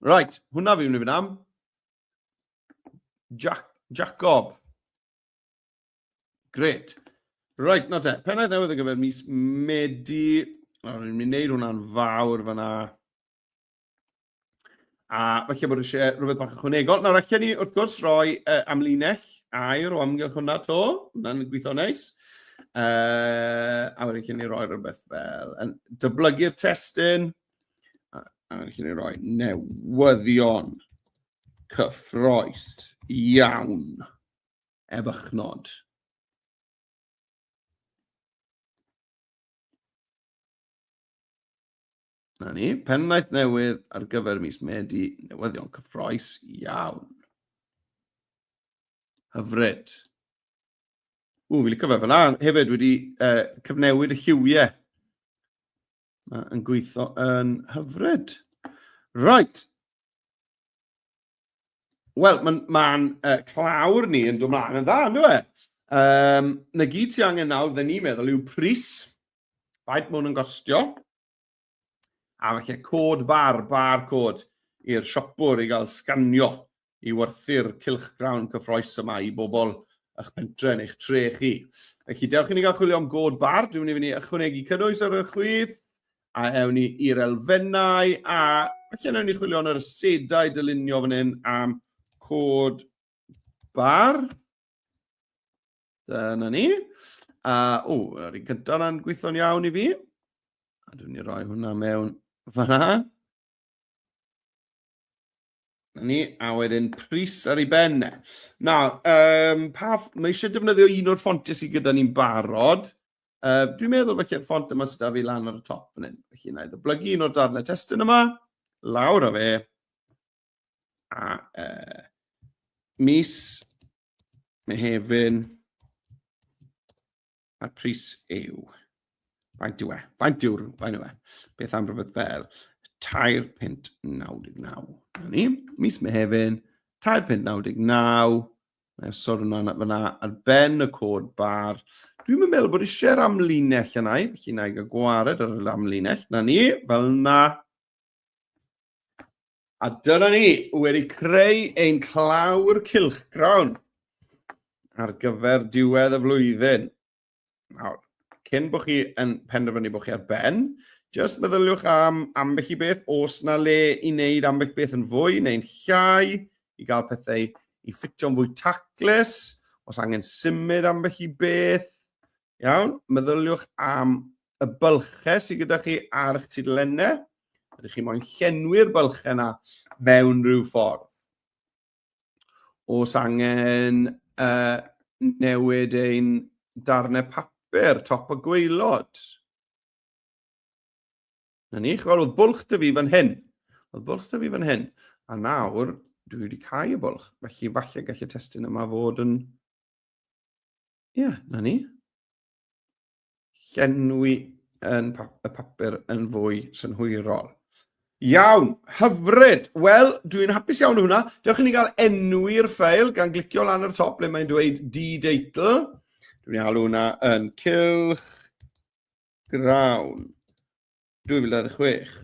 Right, hwnna fi'n mynd am. Jack, Jacob. Great. Right, na te. Pennaeth newydd ar gyfer mis Medi. Nawr, ni'n mynd i wneud hwnna'n fawr fyna. A falle bod eisiau rhywbeth bach ychwanegol. Nawr, allan ni wrth gwrs roi uh, amlinell air o amgylch hwnna to. Hwna'n gweithio neis. Uh, a wedyn allan ni roi rhywbeth fel yn dyblygu'r testyn. a rydych chi'n rhoi newyddion cyffroes iawn ef eich nod. Na ni, pennaeth newydd ar gyfer mis Medi, newyddion cyffroes iawn. Hyfryd. Ww, fi'n licio fe fel hefyd wedi uh, cyfnewid y lliwiau. Mae'n gweithio yn hyfryd. Right. Wel, mae'n ma uh, clawr ni yn dod mlaen yn dda, ynddo e? Um, na gyd ti angen nawr, fe ni'n meddwl, yw pris. Faint mwyn yn gostio. A falle cod bar, bar cod i'r siopwr i gael sganio i werthu'r cylchgrawn cyffroes yma i bobl ych pentre neu'ch tre chi. Felly, dewch i ni gael chwilio am god bar. Dwi'n mynd i fynd ychwanegu cynnwys ar y chwith, a ewn ni i'r elfennau, a felly ewn ni chwilio yn yr asedau dylunio fan hyn am cod bar. Dyna ni. A, o, yr un gyda na'n gweithio'n iawn i fi. A dwi'n ni roi hwnna mewn fanna. Na ni, a wedyn pris ar ei ben. Na, um, pa, mae eisiau defnyddio un o'r ffontiau sydd gyda ni'n barod. Uh, dwi'n meddwl felly y ffont yma sydd â fi lan ar y top yn hyn. Felly na i ddoblygu un o'r darnau testyn yma, lawr o fe, a uh, mis Mehefin A'r pris yw... Faint yw e? Faint yw'r... Faint yw e? Beth am rhywbeth fel 3.99. Dyna ni. Mis Mehefin, 3.99. Mae'n sôn hwnna fyna ar ben y cod bar. Dwi'n meddwl bod eisiau'r amlinell yna i, felly na i gael gwared ar yr amlinell. Na ni, fel na. A dyna ni, wedi creu ein clawr cilchgrawn ar gyfer diwedd y flwyddyn. Nawr, cyn bod chi yn penderfynu bod chi ar ben, jyst meddyliwch am ambell i beth, os na le i wneud ambell beth yn fwy neu'n llai, i gael pethau i ffitio'n fwy taclus, os angen symud ambell i beth, Iawn, meddyliwch am y bylchau sydd gyda chi ar eich tudalennau. Ydych chi moyn llenwi'r bylchau yna mewn rhyw ffordd? Os angen uh, newid ein darnau papur, top o gweilod. Na ni, chwal, oedd bwlch dy fi fan hyn. Oedd bwlch dy fi fan hyn. A nawr, dwi wedi cael y bwlch. Felly, falle gallu testyn yma fod yn Ie, yeah, na ni. Llenwi yn pa y papur yn fwy synhwyrol. Iawn, hyfryd. Wel, dwi'n hapus iawn hwnna. Dewch i ni gael enw i'r ffail gan glicio lan ar top le mae'n dweud d-deitl. Dwi'n alw hwnna yn cylch grawn 2026.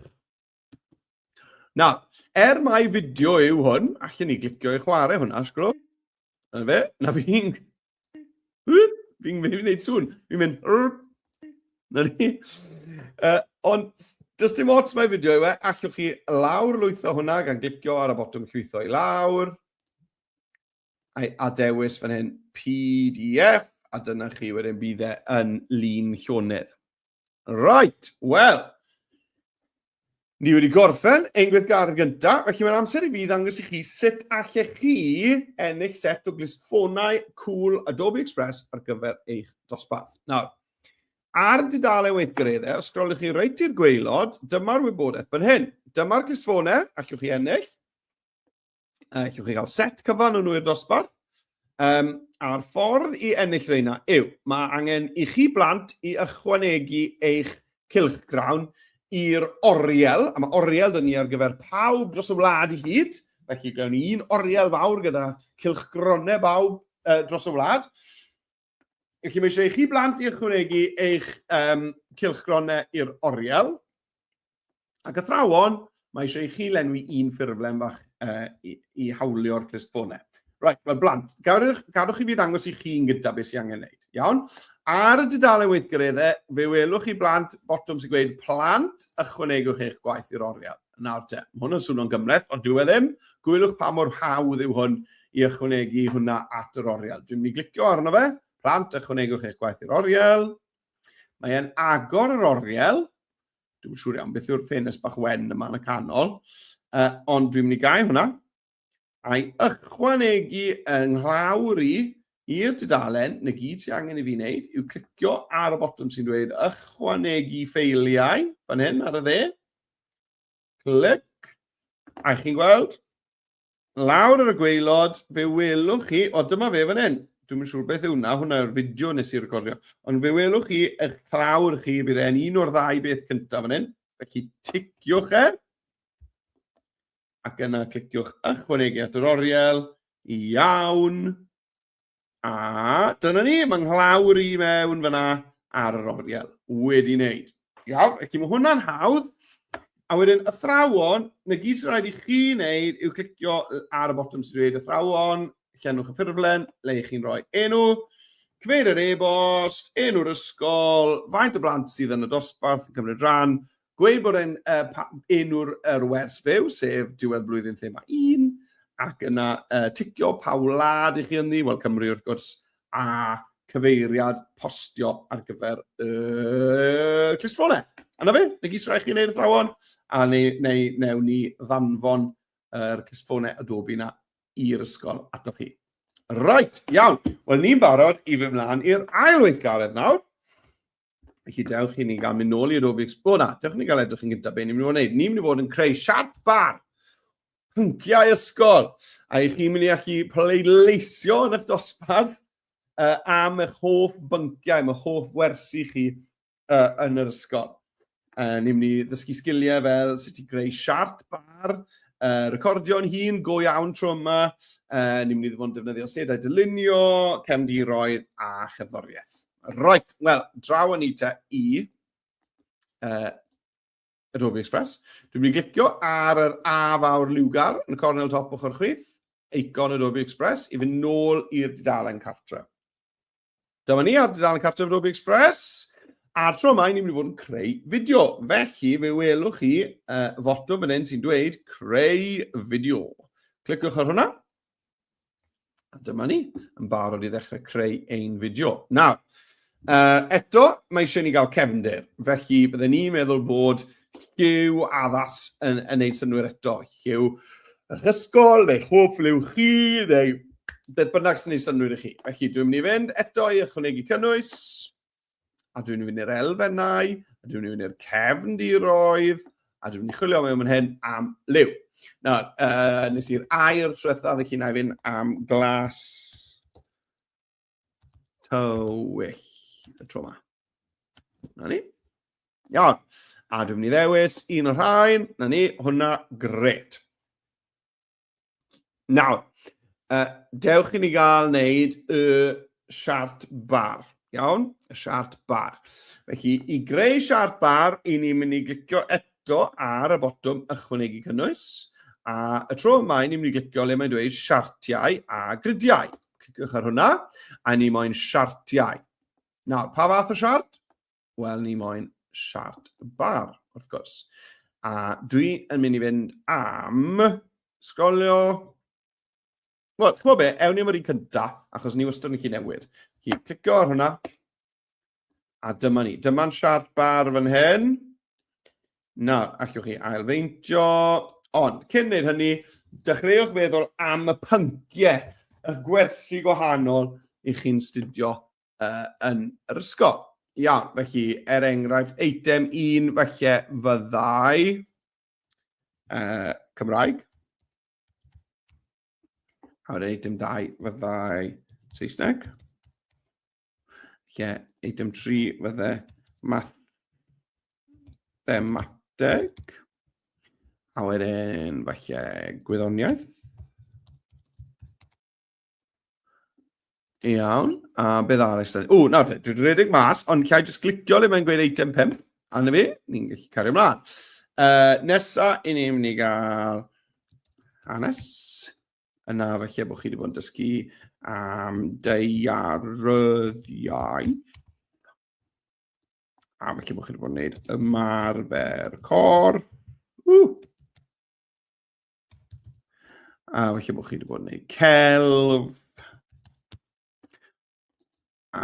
Na, er mai fideo yw hwn, allan ni glicio i chwarae hwnna, sgro. Na fe, na fi'n... Fi'n gwneud sŵn, fi'n mynd... Na ni. Uh, ond Does dim ots mae fideo yw e, allwch chi lawr lwytho hwnna gan glicio ar y botwm llwytho i lawr. I adewis fan hyn PDF, a dyna chi wedyn bydd e yn lun llonydd. Right, wel, ni wedi gorffen ein gweithgaredd gyntaf, felly mae'n amser i fi ddangos i chi sut allech chi ennill set o glistfonau cool Adobe Express ar gyfer eich dosbarth. Nawr, ar dudalen weithgareddau, os sgrolwch chi reit i'r gweilod, dyma'r wybodaeth fan hyn. Dyma'r glistfonau, allwch chi ennill. Uh, chi gael set cyfan o nhw i'r dosbarth. Um, a'r ffordd i ennill reina yw, mae angen i chi blant i ychwanegu eich cilch grawn i'r oriel, a mae oriel dyn ni ar gyfer pawb dros y wlad i hyd, felly gawn ni un oriel fawr gyda cilch gronau bawb uh, dros y wlad. Felly mae eisiau i chi blant i ychwanegu eich um, cilchgronau i'r oriel. Ac athrawon, mae eisiau i chi lenwi un ffurflen fach uh, i, i hawlio'r clustfonau. Right, wel blant, gadwch, gadwch i fi ddangos i chi'n gyda beth sy'n angen wneud. Iawn? Ar y dudalen weithgareddau, fe welwch chi blant botwm sy'n gweud plant ychwanegwch eich gwaith i'r oriel. Nawr te, mae hwn yn swnio'n gymhleth, ond dyw e ddim. Gwylwch pa mor hawdd yw hwn i ychwanegu hwnna at yr oriel. Dwi'n mynd i glicio arno fe. Plant, ychwanegwch eich gwaith i'r oriel. Mae e'n agor yr oriel. Dwi'n siŵr iawn beth yw'r ffenest bach wen yma yn y canol. Uh, ond dwi'n mynd i gau hwnna. a'i ychwanegu yng nglawr i i'r dudalen, 'na gyd sydd angen i fi wneud yw clicio ar y botwm sy'n dweud ychwanegu ffeiliau, fan hyn ar y dde, clic, a chi'n gweld, lawr ar y gweilod, fe welwch chi, o dyma fe fan hyn, dwi'n siŵr beth yw hwnna, hwnna yw'r fideo nes i recordio, ond fe welwch chi, eich clawr chi, bydd e'n un o'r ddau beth cyntaf fan hyn, felly ticiwch e, ac yna cliciwch ychwanegu at yr oriel, iawn, a dyna ni, mae nghlawr i mewn fyna ar yr oriel, wedi wneud. Iawn, ac mae hwnna'n hawdd, a wedyn athrawon, na gyd sy'n rhaid i chi wneud yw clicio ar y botwm sy'n dweud athrawon, llenwch y ffurflen, le i chi'n rhoi enw, cyfeir yr e-bost, enw'r ysgol, faint o blant sydd yn y dosbarth yn cymryd rhan, Gweud bod e'n uh, enw'r er wers fyw, sef diwedd blwyddyn thema 1, ac yna uh, ticio pa wlad i chi ynddi, wel Cymru wrth gwrs, a cyfeiriad postio ar gyfer y uh, clustffonau. Yna fe, neu gys rhaid chi wneud y thrawon, a neu, neu, neu ni ddanfon yr uh, clustffonau Adobe yna i'r ysgol ato chi. Right, iawn. Wel, ni'n barod i fy mlaen i'r ail weithgaredd nawr. Felly, dewch i ni gael mynd nôl i Rubik's Cube. O na, dewch i ni gael edrych yn gyntaf beth ni'n mynd i fod yn gwneud. Ni'n mynd i fod yn creu siart bar, pynciau ysgol, a i chi'n mynd i allu pleidleisio yn eich dosbarth uh, am eich hoff bynciau, am eich hoff wersi chi uh, yn yr ysgol. Uh, ni'n mynd i ddysgu sgiliau fel sut i greu siart bar, uh, recordio'n hun, go iawn tro yma. Uh, ni'n mynd i ddod defnyddio sedau dylunio, cefndiroedd a chefddoriaeth. Right, wel, draw yn eita i uh, Adobe Express. Dwi'n mynd i glicio ar yr A fawr liwgar yn y cornel top ochr chwith, eicon Adobe Express, i fynd nôl i'r dudalen cartre. Dyma ni ar dudalen cartref Ruby Express. A'r tro yma, ni'n mynd i fod yn creu fideo. Felly, fe welwch chi uh, foto fan hyn sy'n dweud creu fideo. Cliciwch ar hwnna. A dyma ni, yn barod i ddechrau creu ein fideo. Nawr, uh, eto, mae eisiau ni gael cefnder. Felly, byddwn ni'n meddwl bod Lliw addas yn, yn neud synwyr eto. Lliw yr ysgol, neu chwp liw chi, neu beth bynnag sy'n neud synwyr i chi. Felly, dwi'n mynd i fynd eto i ychwanegu cynnwys, a dwi'n mynd i'r elfennau, a dwi'n mynd i'r cefndiroedd, a dwi'n mynd i chwilio mewn hyn am liw. Nawr, uh, nes i'r air trwetha, felly na i fynd am glas tywyll y tro yma. Na ni. Iawn. A dwi'n mynd i ddewis un o'r rhain. Na ni, hwnna, gret. Nawr, uh, dewch i ni gael wneud y siart bar. Iawn, y siart bar. Felly, i greu siart bar, i ni'n mynd i glicio eto ar y botwm ychwanegu cynnwys. A y tro yma, ni'n mynd i glicio le mae'n dweud siartiau a gridiau. Cliciwch ar hwnna, a ni moyn siartiau. Nawr, pa fath o siart? Wel, ni moyn siart bar, wrth gwrs. A dwi yn mynd i fynd am sgolio... Wel, chymod be, ewn ni am yr un cyntaf, achos ni wastad yn gallu newid. Felly, clicio ar hwnna. A dyma ni. Dyma'n siart bar fan hyn. Nawr, allwch chi ailfeintio. Ond, cyn wneud hynny, dechreuwch feddwl am y pynciau, y gwersi gwahanol i chi'n studio uh, yn yr ysgol. Iawn, felly, er enghraifft, eitem un felly fyddai uh, Cymraeg. A wedyn eitem dau fyddai Saesneg. Lle, eitem 3 fydde mathemateg. A wedyn, falle, gwyddoniaeth. Iawn, a beth arall? O, nawr te, dwi'n rhedeg mas, ond lle jyst clicio le mae'n gweud eitem 5, a na fi, ni'n gallu cario ymlaen. Uh, nesa, i ni'n mynd i gael hanes. yna felly bod chi wedi bod yn dysgu am deiaryddiau. A felly bod chi wedi bod yn gwneud ymarfer cor. Uh. A felly bod chi wedi bod yn gwneud celf. a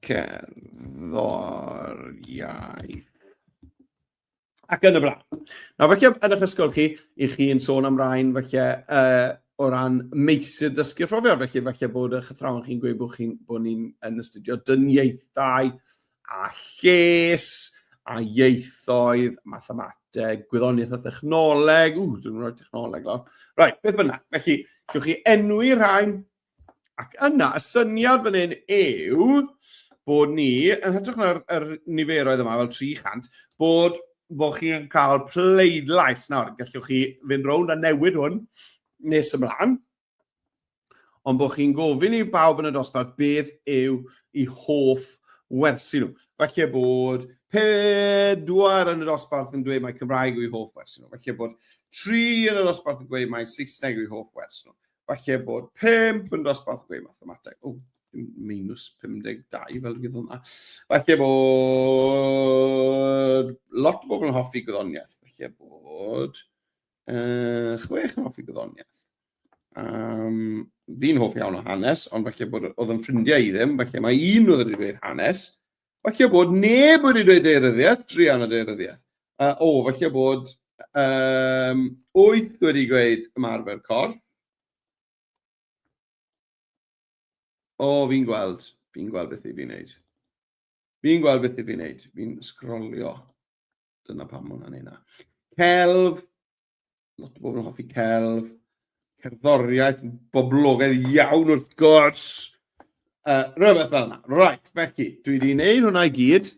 cerddoriaeth. Ac yn y blaen. Nawr, felly, yn eich ysgol chi, i chi yn sôn am rhain, felly, uh, o ran meysydd dysgu phrofiad, felly felly bod eich athrawon chi'n gweud bod, chi, bod ni'n yn astudio dyniaethau a lles a ieithoedd, mathemateg, gwyddoniaeth a thechnoleg, ww, dwi'n rhoi technoleg lawr. Right, beth bynnag, felly, gywch chi enwi rhain, Ac yna, y syniad fan hyn yw bod ni, yn hytrach na'r er niferoedd yma, fel 300, bod, bod chi'n cael pleidlais nawr. Gallwch chi fynd rownd a newid hwn nes ymlaen. Ond bod chi'n gofyn i bawb yn y dosbarth beth yw i hoff wersi nhw. Felly bod pedwar yn y dosbarth yn dweud mae Cymraeg yw i hoff wersi nhw. Felly bod tri yn y dosbarth yn dweud mae Saesneg yw i hoff wersi nhw. falle bod 5 yn dosbarth gwe mathemateg. O, minus 52 fel gyda hwnna. Falle bod lot o bobl yn hoffi gwyddoniaeth. Falle bod uh, chwech yn hoffi gwyddoniaeth. Um, fi'n hoff iawn o hanes, ond falle bod oedd yn ffrindiau i ddim, falle mae un oedd wedi dweud hanes, Falle bod neb wedi dweud deiryddiaeth, druan o deiryddiaeth. Uh, o, falle bod um, wyth wedi gweud ymarfer corff. O, fi'n gweld, fi'n gweld beth i fi'n neud. Fi'n gweld beth i fi'n neud, fi'n sgrolio. Dyna pam mae hwnna'n ei na. Celf, lot o bobl yn hoffi celf. Cerddoriaeth, boblogaidd iawn wrth gwrs. Uh, rhywbeth fel yna. Right, felly, dwi wedi gwneud hwnna i gyd.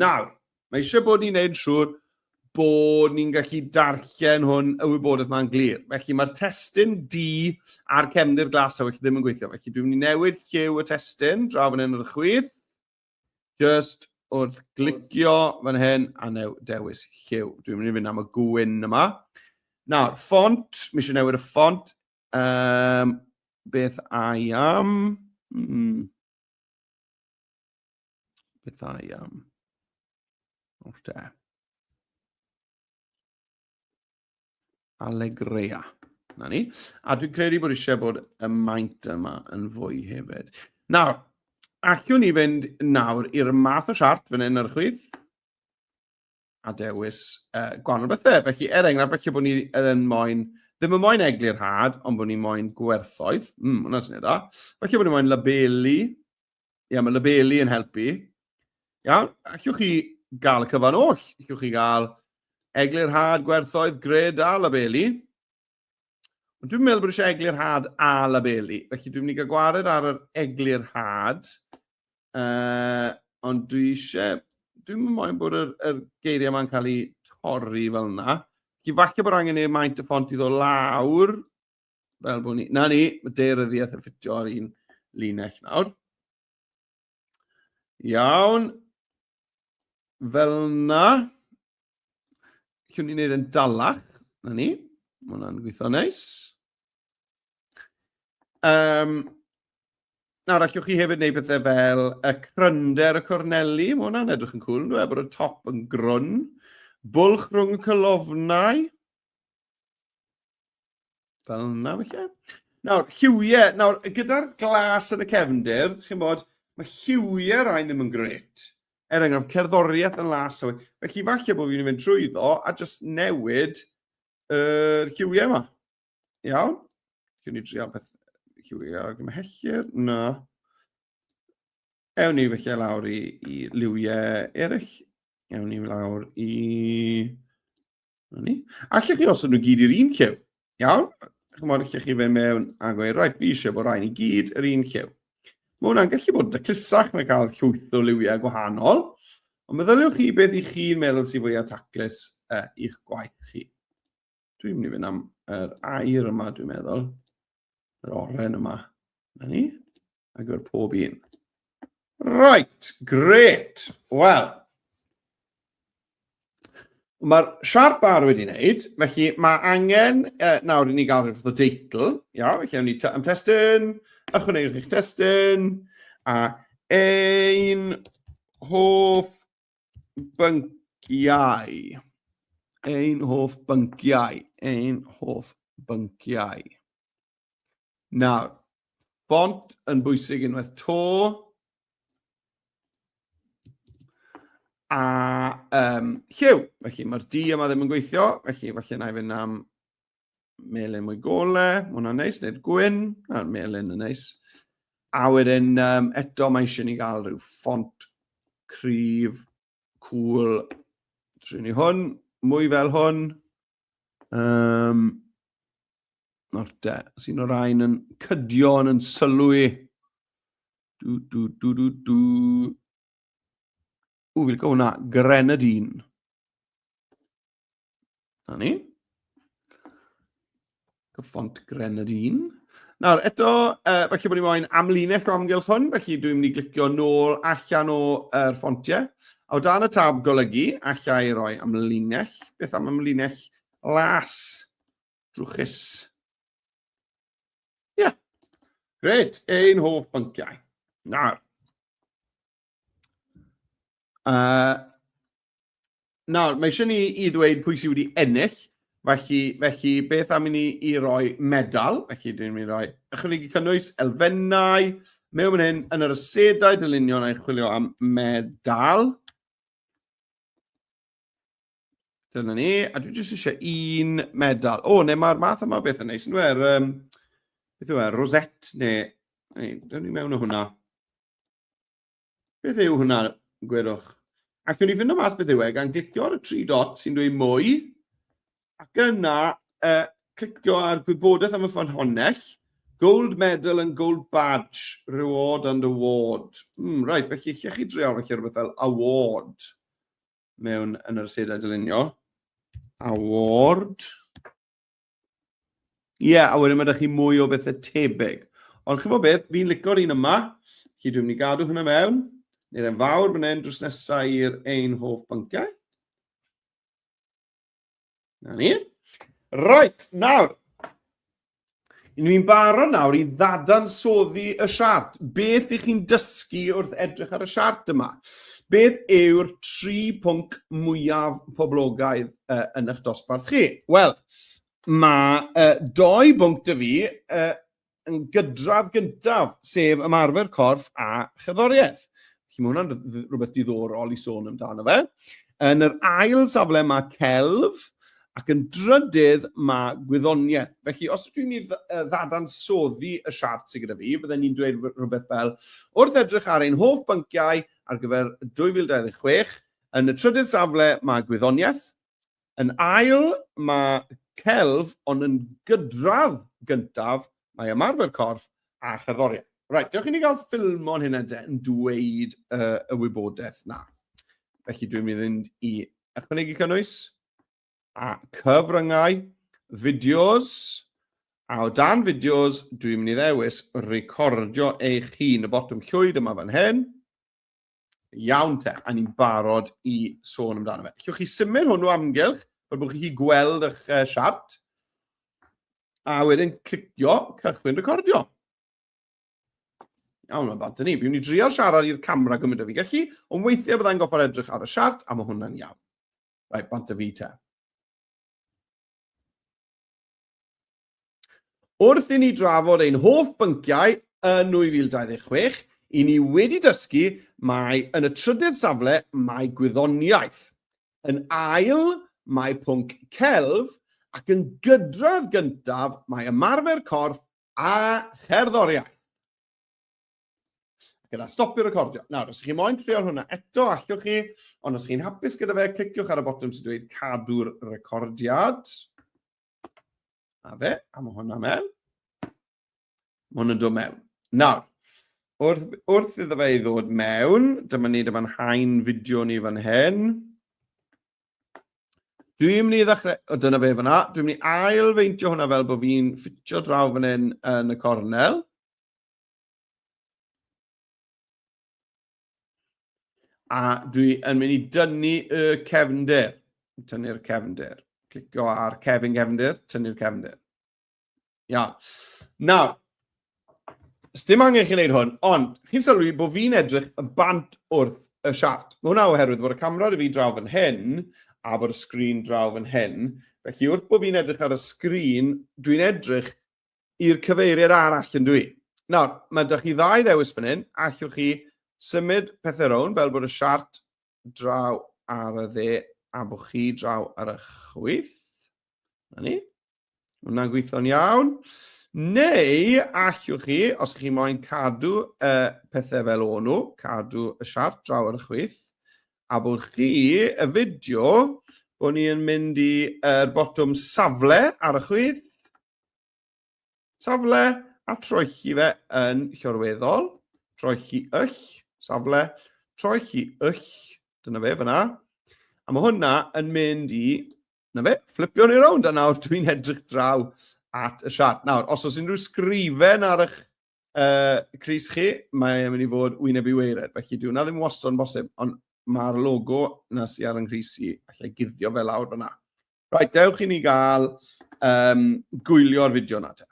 Nawr, mae eisiau bod ni'n gwneud siŵr bod ni'n gallu darllen hwn y wybodaeth mae'n glir. Felly mae'r testyn D a'r cefndir glas a felly ddim yn gweithio. Felly dwi'n mynd i newid lliw y testyn, draw fan hyn ar y chwith. Just wrth glicio fan hyn a new, dewis lliw. Dwi'n mynd i fynd am y gwyn yma. Nawr, ffont, mi eisiau newid y ffont. Um, beth I am? Hmm. Beth I am? O'r te. Allegrea. Na ni. A dwi'n credu bod eisiau bod y maint yma yn fwy hefyd. Nawr, allwn ni fynd nawr i'r math o siart fan hyn ar y chwyd a dewis uh, gwahanol bethau. Felly, er enghraifft, felly bod ni yn moyn, ddim yn moyn eglurhad, ond bod ni moyn gwerthoedd. Mm, hwnna sy'n edrych. Felly bod ni moyn labelu, Ia, mae labelu yn helpu. Iawn, allwch chi gael y cyfan oll. Allwch chi gael eglurhad, gwerthoedd, gred a labelu. Ond dwi'n meddwl bod eisiau eglurhad a labelu. Felly dwi'n mynd i gael gwared ar yr eglurhad. Uh, ond dwi eisiau... Dwi'n mynd moyn bod yr, yr geiriau yma'n cael eu torri fel yna. Felly falle bod angen ei maint y ffont i ddod lawr. Fel bod ni... Na ni, mae deiryddiaeth yn ffitio ar un linell nawr. Iawn. Fel na. Llwn ni'n neud yn dalach. Na ni. Mae hwnna'n gweithio neis. Um, nawr, allwch chi hefyd wneud pethau fel y crynder y corneli. Mae hwnna'n edrych yn cool, yn dweud, bod y top yn grwn. Bwlch rhwng y cylofnau. Fel yna, felly. Nawr, lliwiau, nawr, gyda'r glas yn y cefndir, chi'n bod, mae lliwiau rhain ddim yn gret. Er enghraifft, cerddoriaeth yn las yw. Felly, falle bod fi'n mynd trwy ddo a jyst newid yr er lliwiau yma. Iawn? Dwi'n ni drio beth lliwiau ar gyfer hellur. Na. Ewn ni felly lawr i, i liwiau eraill. Ewn ni lawr i Ni. Allech chi os nhw gyd i'r un llew. Iawn? Chymod, allech chi fe mewn a gweud, rhaid, fi eisiau bod rhaid i gyd yr un llew. Mae hwnna'n gallu bod dyclusach na cael llwyth o liwiau gwahanol, ond meddyliwch chi beth i chi'n meddwl sy'n fwyaf taclus uh, i'ch gwaith chi. Dwi'n mynd i fynd am yr air yma, dwi'n meddwl. yr oren yma. Na ni. Ac ar pob un. Right, great. Wel, mae'r siarp bar wedi wneud, felly mae angen uh, nawr i ni gael rhywbeth o deitl. Iawn, felly awn ni am testyn, ychwanegwch eich testyn, a ein hoff bynciau. Ein hoff bynciau. Ein hoff bynciau. Nawr, bont yn bwysig unwaith to. A um, lliw. Felly mae'r di yma ddim yn gweithio. Felly falle na i fynd am melyn mwy gole, mae hwnna'n neis, neu'r gwyn, a'r melyn yn neis. A wedyn, um, eto mae eisiau ni gael rhyw ffont cryf, cool, trwy ni hwn, mwy fel hwn. Um, Nawr te, os un o'r rhain yn cydio yn yn sylw i. Du, du, du, du, du. Ww, fi'n cael hwnna, Grenadine. Na ni. Cyffont Grenadine. Nawr, eto, uh, felly bod ni moyn amlinell o amgylch hwn, felly dwi'n mynd i glicio nôl allan o'r er ffontiau. A o dan y tab golygu, allai i roi amlinell. Beth am amlinell las, drwchus. Ie, yeah. gred, ein hoff bynciau. Nawr, Uh, nawr, mae eisiau ni i ddweud pwy sydd wedi ennill, felly, felly beth am i ni i roi medal, felly dyn ni'n rhoi ychwanegu cynnwys, elfennau, mewn mynd hyn, yn yr ysedau dylunio neu chwilio am medal. Dyna ni, a dwi jyst eisiau un medal. O, neu mae'r math yma beth yn neis, yn dweud, um, beth yw e, rosette, neu, neu, dyn ni mewn o hwnna. Beth yw hwnna, gwerwch? Ac yn i fynd o mas beth yw e, gan glicio ar y tri dot sy'n dweud mwy, ac yna uh, clicio ar gwybodaeth am y ffynhonnell, Gold medal and gold badge, reward and award. Mm, right, felly lle chi dreol felly rhywbeth fel award mewn yn yr asedau dylunio. Award. Ie, yeah, a wedyn mae ydych chi mwy o bethau tebyg. Ond chi'n fawr beth, fi'n licio'r un yma, chi dwi'n mynd i gadw hynna mewn, neu'r e'n fawr fan hyn drws nesau i'r ein hoff bynciau. Na ni. Right, nawr, ni'n barod nawr i ddadansoddi y siart. Beth ych chi'n dysgu wrth edrych ar y siart yma? Beth yw'r tri pwnc mwyaf poblogaidd yn eich dosbarth chi? Wel, mae doi bwnc 'da fi yn gydradd gyntaf, sef ymarfer corff a cherddoriaeth. Felly mae hwnna'n rhywbeth diddorol i sôn amdano fe. Yn yr ail safle mae celf, Ac yn drydydd, mae gwyddoniaeth. Felly, os ydw i'n mynd i ddadansoddi y siart sydd gyda fi, bydden i'n dweud rhywbeth fel, wrth edrych ar ein holl bynciau ar gyfer 2026, yn y trydydd safle mae gwyddoniaeth, yn ail mae celf, ond yn gydradd gyntaf mae ymarfer corff a cherddoriaeth. Reit, dewch i ni gael ffilm o'n hynna de yn dweud y wybodaeth na. Felly dwi'n mynd i fynd i ychwanegu cynnwys. a cyfryngau, fideos, a o dan fideos, dwi'n mynd i ddewis recordio eich hun, y botwm llwyd yma fan hyn. Iawn te, a ni'n barod i sôn amdano fe. Llwch chi symud hwnnw amgylch, fel bod chi'n gweld eich uh, siart, a wedyn clicio cychwyn recordio. Iawn, mae'n bant ni. Fi'n ni drio siarad i'r camera gymryd o fi gallu, ond weithiau byddai'n goffa'r edrych ar y siart, a mae hwnna'n iawn. Right, bont y fi ta. Wrth i ni drafod ein hoff bynciau yn 2026, i ni wedi dysgu mae yn y trydydd safle mae gwyddoniaeth. Yn ail mae pwnc celf ac yn gydradd gyntaf mae ymarfer corff a cherddoriaeth. Gyda stopio recordio. Nawr, os ydych chi moyn trio'r hwnna eto, allwch chi, ond os chi'n hapus gyda fe, cliciwch ar y botwm sy'n dweud cadw'r recordiad. A fe, a mae hwnna mewn. Mae hwnna'n dod mewn. Nawr, wrth, wrth iddo fe i ddod mewn, dyma ni, dyma'n hain fideo ni fan hyn. Dwi'n mynd i ddechrau, o dyna fe fyna, dwi'n mynd i ail feintio hwnna fel bod fi'n ffitio draw fan hyn yn y cornel. A dwi yn mynd i dynnu y cefnder. Tynnu'r cefnder. Clicio ar cefn gefnder, tynnu'r cefnder. Ia. Nawr, dim angen chi'n gwneud hwn, ond chi'n sylwi bod fi'n edrych yn bant wrth y siart. Mae hwnna oherwydd bod y camera dy fi draw fan hyn a bod y sgrin draw fan hyn. Felly wrth bod fi'n edrych ar y sgrin, dwi'n edrych i'r cyfeiriad arall, yn dw i. Nawr, mae 'da chi ddau ddewis fan hyn, allwch chi symud pethau rownd fel bod y siart draw ar y dde a bod chi draw ar y chwyth. Na ni. Hwna'n gweithio'n iawn. Neu allwch chi, os ydych chi moyn cadw y pethau fel o'n nhw, cadw y siart draw ar y chwyth, a bod chi, y fideo, bod ni'n mynd i'r botwm safle ar y chwyth, Safle a troelli fe yn llorweddol, troelli yll, safle, troelli yll, dyna fe fyna. A mae hwnna yn mynd i, na fe, fflipio ni rownd, a nawr dwi'n edrych draw at y siart. Nawr, os oes unrhyw sgrifen ar eich Uh, Cris chi, mae'n mynd i fod wyneb i weired, felly dwi'n na ddim wastad yn bosib, ond mae'r logo na sy'n ar yng Nghris i, allai guddio fel awr fyna. Right, dewch i ni gael um, gwylio'r fideo na te.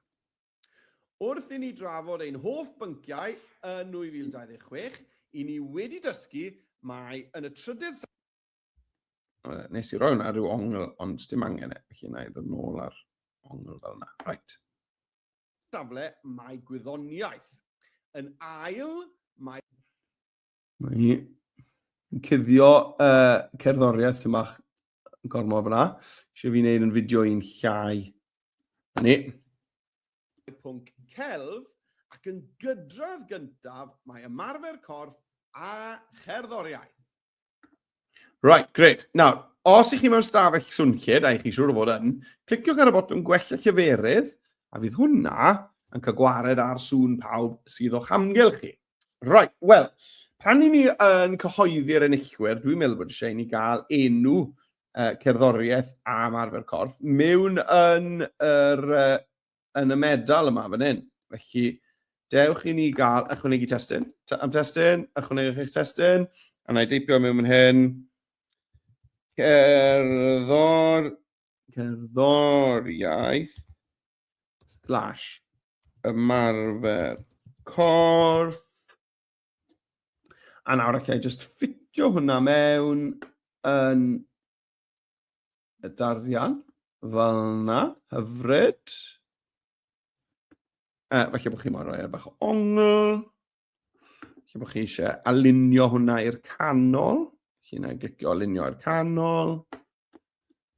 Wrth i ni drafod ein hoff bynciau yn 2026, i ni wedi dysgu mae yn y trydydd... Nes i roi hwnna rhyw ongl, ond dim angen e, felly na i ddod nôl ar ongl fel yna. Right. safle mae gwyddoniaeth. Yn ail, mae... Mae cuddio uh, cerddoriaeth sy'n bach gormod fyna. Eisiau fi wneud yn fideo i'n llai. Ni. Pwnc celf ac yn gydradd gyntaf mae ymarfer corff a cherddoriaeth. Right, great. Nawr, os ych chi mewn stafell swnllyd, a ych chi siŵr o fod yn, cliciwch ar y botwm gwella lleferydd, a fydd hwnna yn cael gwared ar sŵn pawb sydd o'ch amgylch chi. Right, wel, pan i ni yn cyhoeddi'r enillwyr, dwi'n meddwl bod eisiau i ni gael enw uh, cerddoriaeth a marfer corff mewn yn yr uh, yn y medal yma fan hyn. Felly, dewch i ni gael ychwanegu testyn. Am testyn, ychwanegwch eich testyn. A na i deipio mewn fan hyn. Cerddor, cerddoriaeth, slash, ymarfer corff. A nawr allai just ffitio hwnna mewn yn y darian fel yna, hyfryd. Uh, felly bod chi mor roi ar bach ongl. Felly bod chi eisiau alinio hwnna i'r canol. Felly yna glicio alinio i'r canol.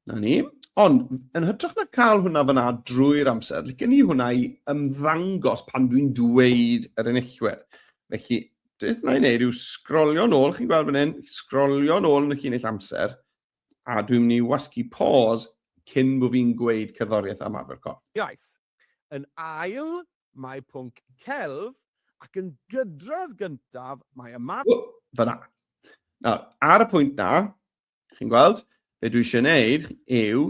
Na ni. Ond, yn hytrach na cael hwnna fyna drwy'r amser, licen ni hwnna i ymddangos pan dwi'n dweud yr enillwyr. Felly, beth na i wneud yw sgrolio nôl, chi'n gweld fan hyn, sgrolio nôl yn y llinell amser, a dwi'n mynd i wasgu pause cyn bod fi'n gweud cerddoriaeth am arfer corff. Iaith. Yn ail, mae pwnc celf, ac yn gydrodd gyntaf, mae ymateb... Oh, fyna. Nawr, ar y pwynt na, chi'n gweld, be dwi eisiau gwneud yw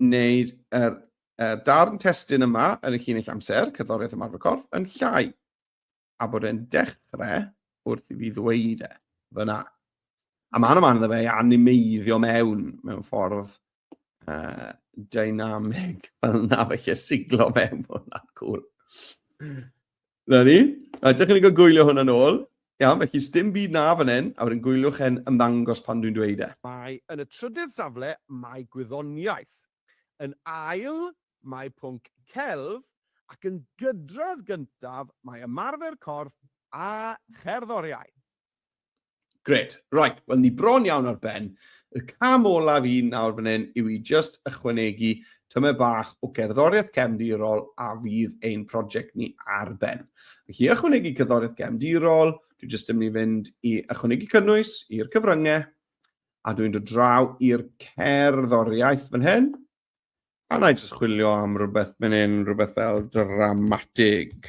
wneud yr, er, darn testun yma yn y llinell amser, cerddoriaeth ymarfer corff, yn llai, a bod e'n dechrau wrth i fi ddweud e, fyna. A mae'n yma iddo fe i animeiddio mewn, mewn ffordd uh, dynamig, fel na felly siglo mewn, hwnna'n cool. Na ni. A dych chi'n cael gwylio hwn yn ôl. Iawn, felly sdim byd na fan hyn, a wedyn gwyliwch e'n ymddangos pan dwi'n dweud e. Mae yn y trydydd safle mae gwyddoniaeth. Yn ail mae pwnc celf ac yn gydredd gyntaf mae ymarfer corff a cherddoriaeth. Gret. Right, wel ni bron iawn ar ben. Y cam olaf i nawr fan hyn yw i just ychwanegu tymer bach o gerddoriaeth cefndirol a fydd ein prosiect ni ar ben. Felly i ychwanegu cerddoriaeth gefndirol, dwi just yn mynd i fynd i ychwanegu cynnwys i'r cyfryngau a dwi'n dod draw i'r cerddoriaeth fan hyn. A na i just chwilio am rhywbeth fan hyn, rhywbeth fel dramatig.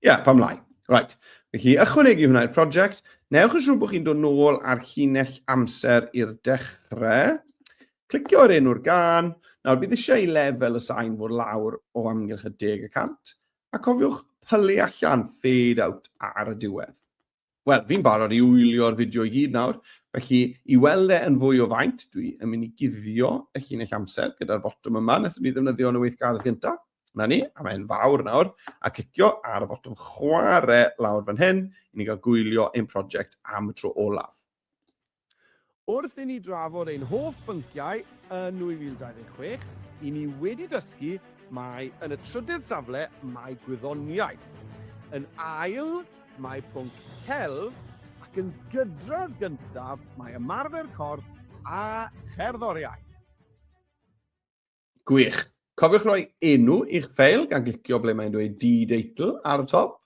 Ie, yeah, pam lai. Right. Felly, ychwanegu hwnna i'r prosiect. Newch yn siŵr bod chi'n dod nôl ar llinell amser i'r dechrau. Clicio ar enw'r gan. Nawr, bydd eisiau i lefel y sain fod lawr o amgylch y deg y cant. A cofiwch pylu allan, fade out ar y diwedd. Wel, fi'n barod i wylio'r fideo i gyd nawr, felly i weld e yn fwy o faint, dwi yn mynd i guddio y llinell amser gyda'r botwm yma, wnaethon ni ddefnyddio yn y weithgardd gyntaf. Na ni, a mae'n fawr nawr, a clicio ar y botwm chwarae lawr fan hyn, i ni gael gwylio ein prosiect am y tro olaf. Wrth i ni drafod ein hoff bynciau yn 2026, i ni wedi dysgu mai yn y trydydd safle mae gwyddoniaeth, yn ail mae pwnc celf ac yn gydradd gyntaf mae ymarfer corff a cherddoriaeth. Gwych. Cofiwch roi enw i'ch ffeil gan glicio ble mae'n dweud D-Deitle ar y top.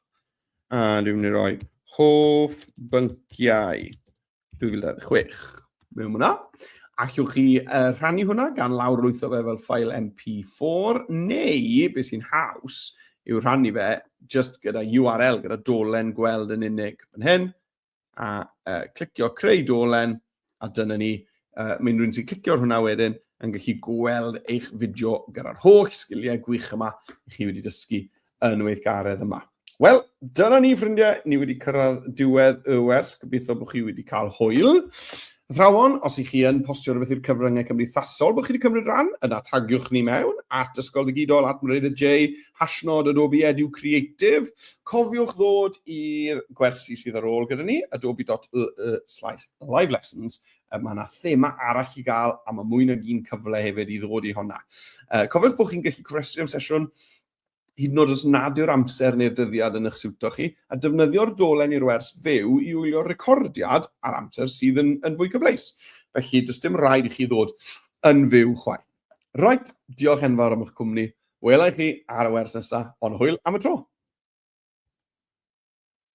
A dwi'n mynd i roi hoff bynciau 2026 mewn hwnna. Allwch chi uh, rhannu hwnna gan lawr lwytho fe fel ffael MP4 neu, beth sy'n haws, yw rhannu fe just gyda URL, gyda dolen gweld yn unig. Yn hyn, a uh, clicio creu dolen, a dyna ni. Uh, Mae'n rhywun sy'n clicio ar hwnna wedyn yn gallu gweld eich fideo gyda'r holl sgiliau gwych yma i chi wedi dysgu yn weithgaredd yma. Wel, dyna ni ffrindiau, ni wedi cyrraedd diwedd y wers, gobeithio bod chi wedi cael hwyl. Athrawon, os y'ch chi yn postio rhywbeth i'r cyfryngau cymdeithasol bod chi wedi cymryd rhan, yna tagiwch ni mewn, at Ysgol Digidol, at Meredydd Jay, hashnod Adobe Edu Creative. Cofiwch ddod i'r gwersi sydd ar ôl gyda ni, adobe.ee slash live lessons, mae yna thema arall i gael a mae mwy nag un cyfle hefyd i ddod i honna. Cofiwch bod chi'n gallu cofrestru am sesiwn hyd yn oed os nad yw'r amser neu'r dyddiad yn eich siwto chi, a defnyddio'r dolen i'r wers fyw i wylio'r recordiad ar amser sydd yn, yn fwy cyfleus. Felly, does dim rhaid i chi ddod yn fyw chwaith. Roet, diolch enfawr am eich cwmni. Wela i chi ar y wers nesaf, ond hwyl am y tro!